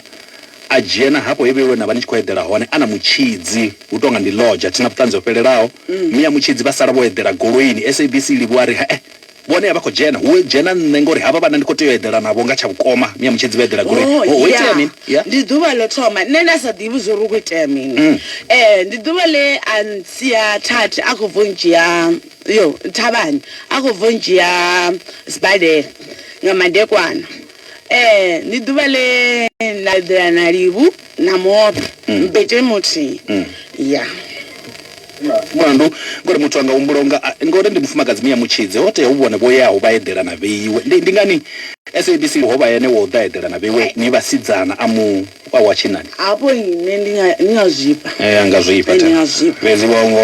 B: a dzhena hafho he vheiwe na vha ni tshi khou eḓela hone a na Mutshidzi hu tou nga ndi lodge a thi na vhuṱanzi ho fhelelaho. Mia Mutshidzi vha sala vho eḓela goloini SABC i livhuwa a ri he-e. Vhone a vha khou dzhena hu dzhena nṋe ngori havha vhana ndi khou tea u eḓela navho nga tsha vhukoma mi a mutshedzi vha eḓela goloi oh, ho itea mini yeah. ndi ḓuvha ḽo
Q: thoma nṋe nda sa ḓivhi zwo ri khou itea mini mm. eh ndi ḓuvha ḽe a ntsia thathi a khou bvo ndzhia yo thavhani a khou bvo ndzhia sibadela nga madekwana ndi ḓuvha ḽe na eḓela na livhu na mobe mbete muthihi ya
B: mulandu ngori muthu anga humbula unga ngori ndi mufumakadzi miya mutshidze ho tea hu vhone vho yaho vha eḓela na vheiwe ndi ndi ngani sabc ho vha yene wo ḓa eḓela na vheiwe ni vhasidzana a mu wa wa tshinani hafho nne ndi
Q: nga ndi nga zwifha anga zwifha ndi nga
B: zwifha fhedzi wa ngo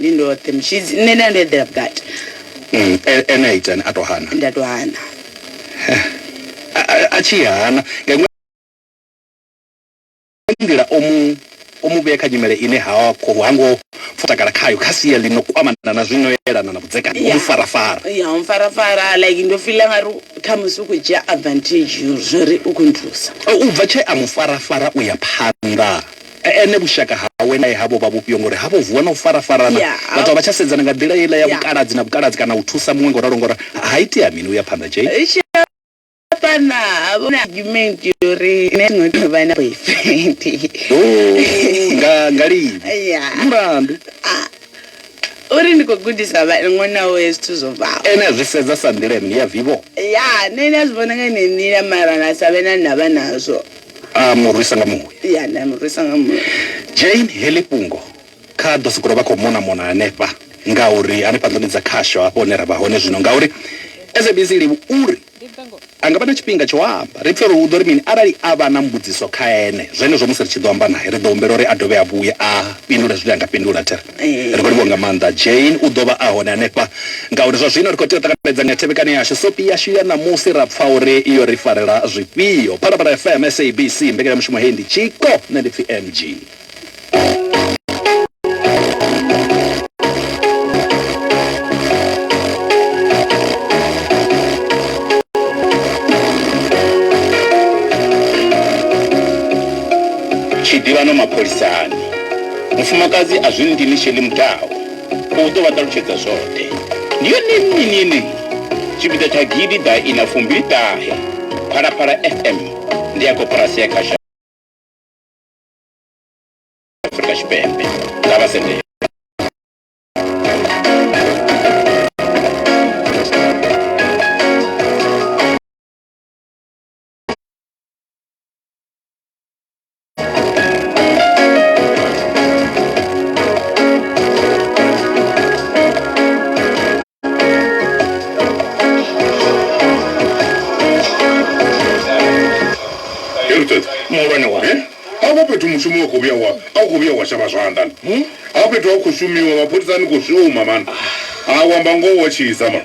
B: ndi ndoṱhe mshidzi
Q: nṋe nda ndo eḓela vhukati Mm, e-
B: ene a itani a to hana nda to hana A- a- a tshi hana nga iṅwe nḓila o mu o mu vhea kha nyimele ine ha kho ha ngo pfa takala khayo kha sia ḽi no kwamana na zwino yelana na vhudzekani o mu Yeah. farafara ya u mpfarafara
Q: like ndo fila nga ri khamusi u khou dzhia advantage yo zwori u khou nthusa O, u bva tshe a mu
B: farafara u ya phanḓa E, ene vhushaka hawe nae havho vha vhufhio ngori ha vho vuwa na u farafarana Ya. vhathu a vha tsha sedzana nga nḓila yeiḽa ya Ya. vhukaladzi na vhukaladzi kana u thusa muṅwe ngoralo ngora ha itea mini u ya phanḓa jay Ri tshi ya phanḓa
Q: ha vha na argument yo uri nṋe ndi nga vha na boyfriend Oh,
B: nga nga
Q: lini ya
B: mulandu
Q: uri ndi khou gudisa vha- ṅwana wawe zwithu zwo bvaho ene a zwi sedza sa nḓila
B: ya mini ya vivo ya nṋe nda zwi
Q: vhona nga ine nḓila mara na sa vhe na ndavha nazwo a mu rwisa nga
B: muya ya nda mu rwisa nga
Q: muya jane heḽi
B: fhungo kha ḓo sokou vha khou mona mona hanefha ngauri hanefha nḓuni dza khasho hafho hune ra vha hone zwino ngauri sabc livhu uri a nga vha na tshifhinga tsho amba ri pfhe uri u ḓo ri mini arali a vha na mbudziso kha ene zwenezwo musi ri tshi ḓo amba naye ri ḓo humbela uri a dovhe a vhuye a fhindule zwine a nga fhindula thera ri khou livhuwa nga maanḓa jane u ḓo vha a hone hanefha ngauri zwa zwino ri khou tea u ṱanganedza nga thevhekano yashu sopi yashu ya ṋamusi ra pfa uri yo ri farela zwifhio phalaphala fm sabc mbekanyamushumo heyi ndi tshiko nṋe ndi pfi
E: mg Mufumakadzi a zwi ndini Sheli Mudau u ḓo vha ṱalutshedza zwoṱhe. Ndi yone nnyi ni yeneyi? Tshipiḓa tsha gidi ḓa ina fumbili ṱahe Phalaphala FM ndi ya koporasi ya kha sha Afrika Tshipembe nga vha sendela.
R: mushumo wa khou vhuya wa a khou vhuya wa shavha zwanḓa hmm? ha fhethu ha khou shumiwa mapholisani khou shuma mani a wamba ngoho wa tshisa mani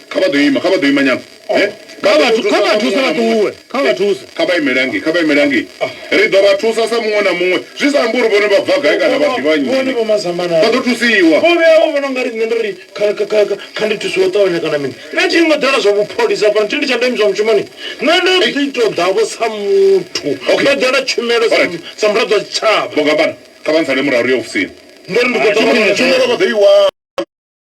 R: Kha vha ḓo ima, kha vha ḓo ima nyana. Kha vha thu,
G: kha vha thuse vha ṱuwe, kha vha thuse. Kha vha imele
R: hangei, kha vha imele hangei. Ri ḓo vha thusa sa muṅwe na muṅwe, zwi sa ambi uri vhone vha bva gai kana vha ḓivha nnyi. Vhone vho mazambana. Vha ḓo thusiwa. Vho vhuya vha vhona u nga ri nṋe
G: ndo ri kha, kha, kha, kha ndi thusiwe u ṱavhanya kana mini. Nṋe thi ngo ḓela zwa vhupholisa fhano, thi ndi tsha ndeme zwa mushumoni. Nṋe ndo ḓi tou ḓa-vho sa muthu. Ndo ḓela tshumelo sa, sa muraḓo wa
R: tshitshavha.
G: Vho Gambana,
R: kha vha ntsale
G: murahu ri ye
R: ofisini.
G: Ndo ri
R: ndi khou ṱoḓa vha vhone. Tshumelo
G: vha ḓo
R: i wana.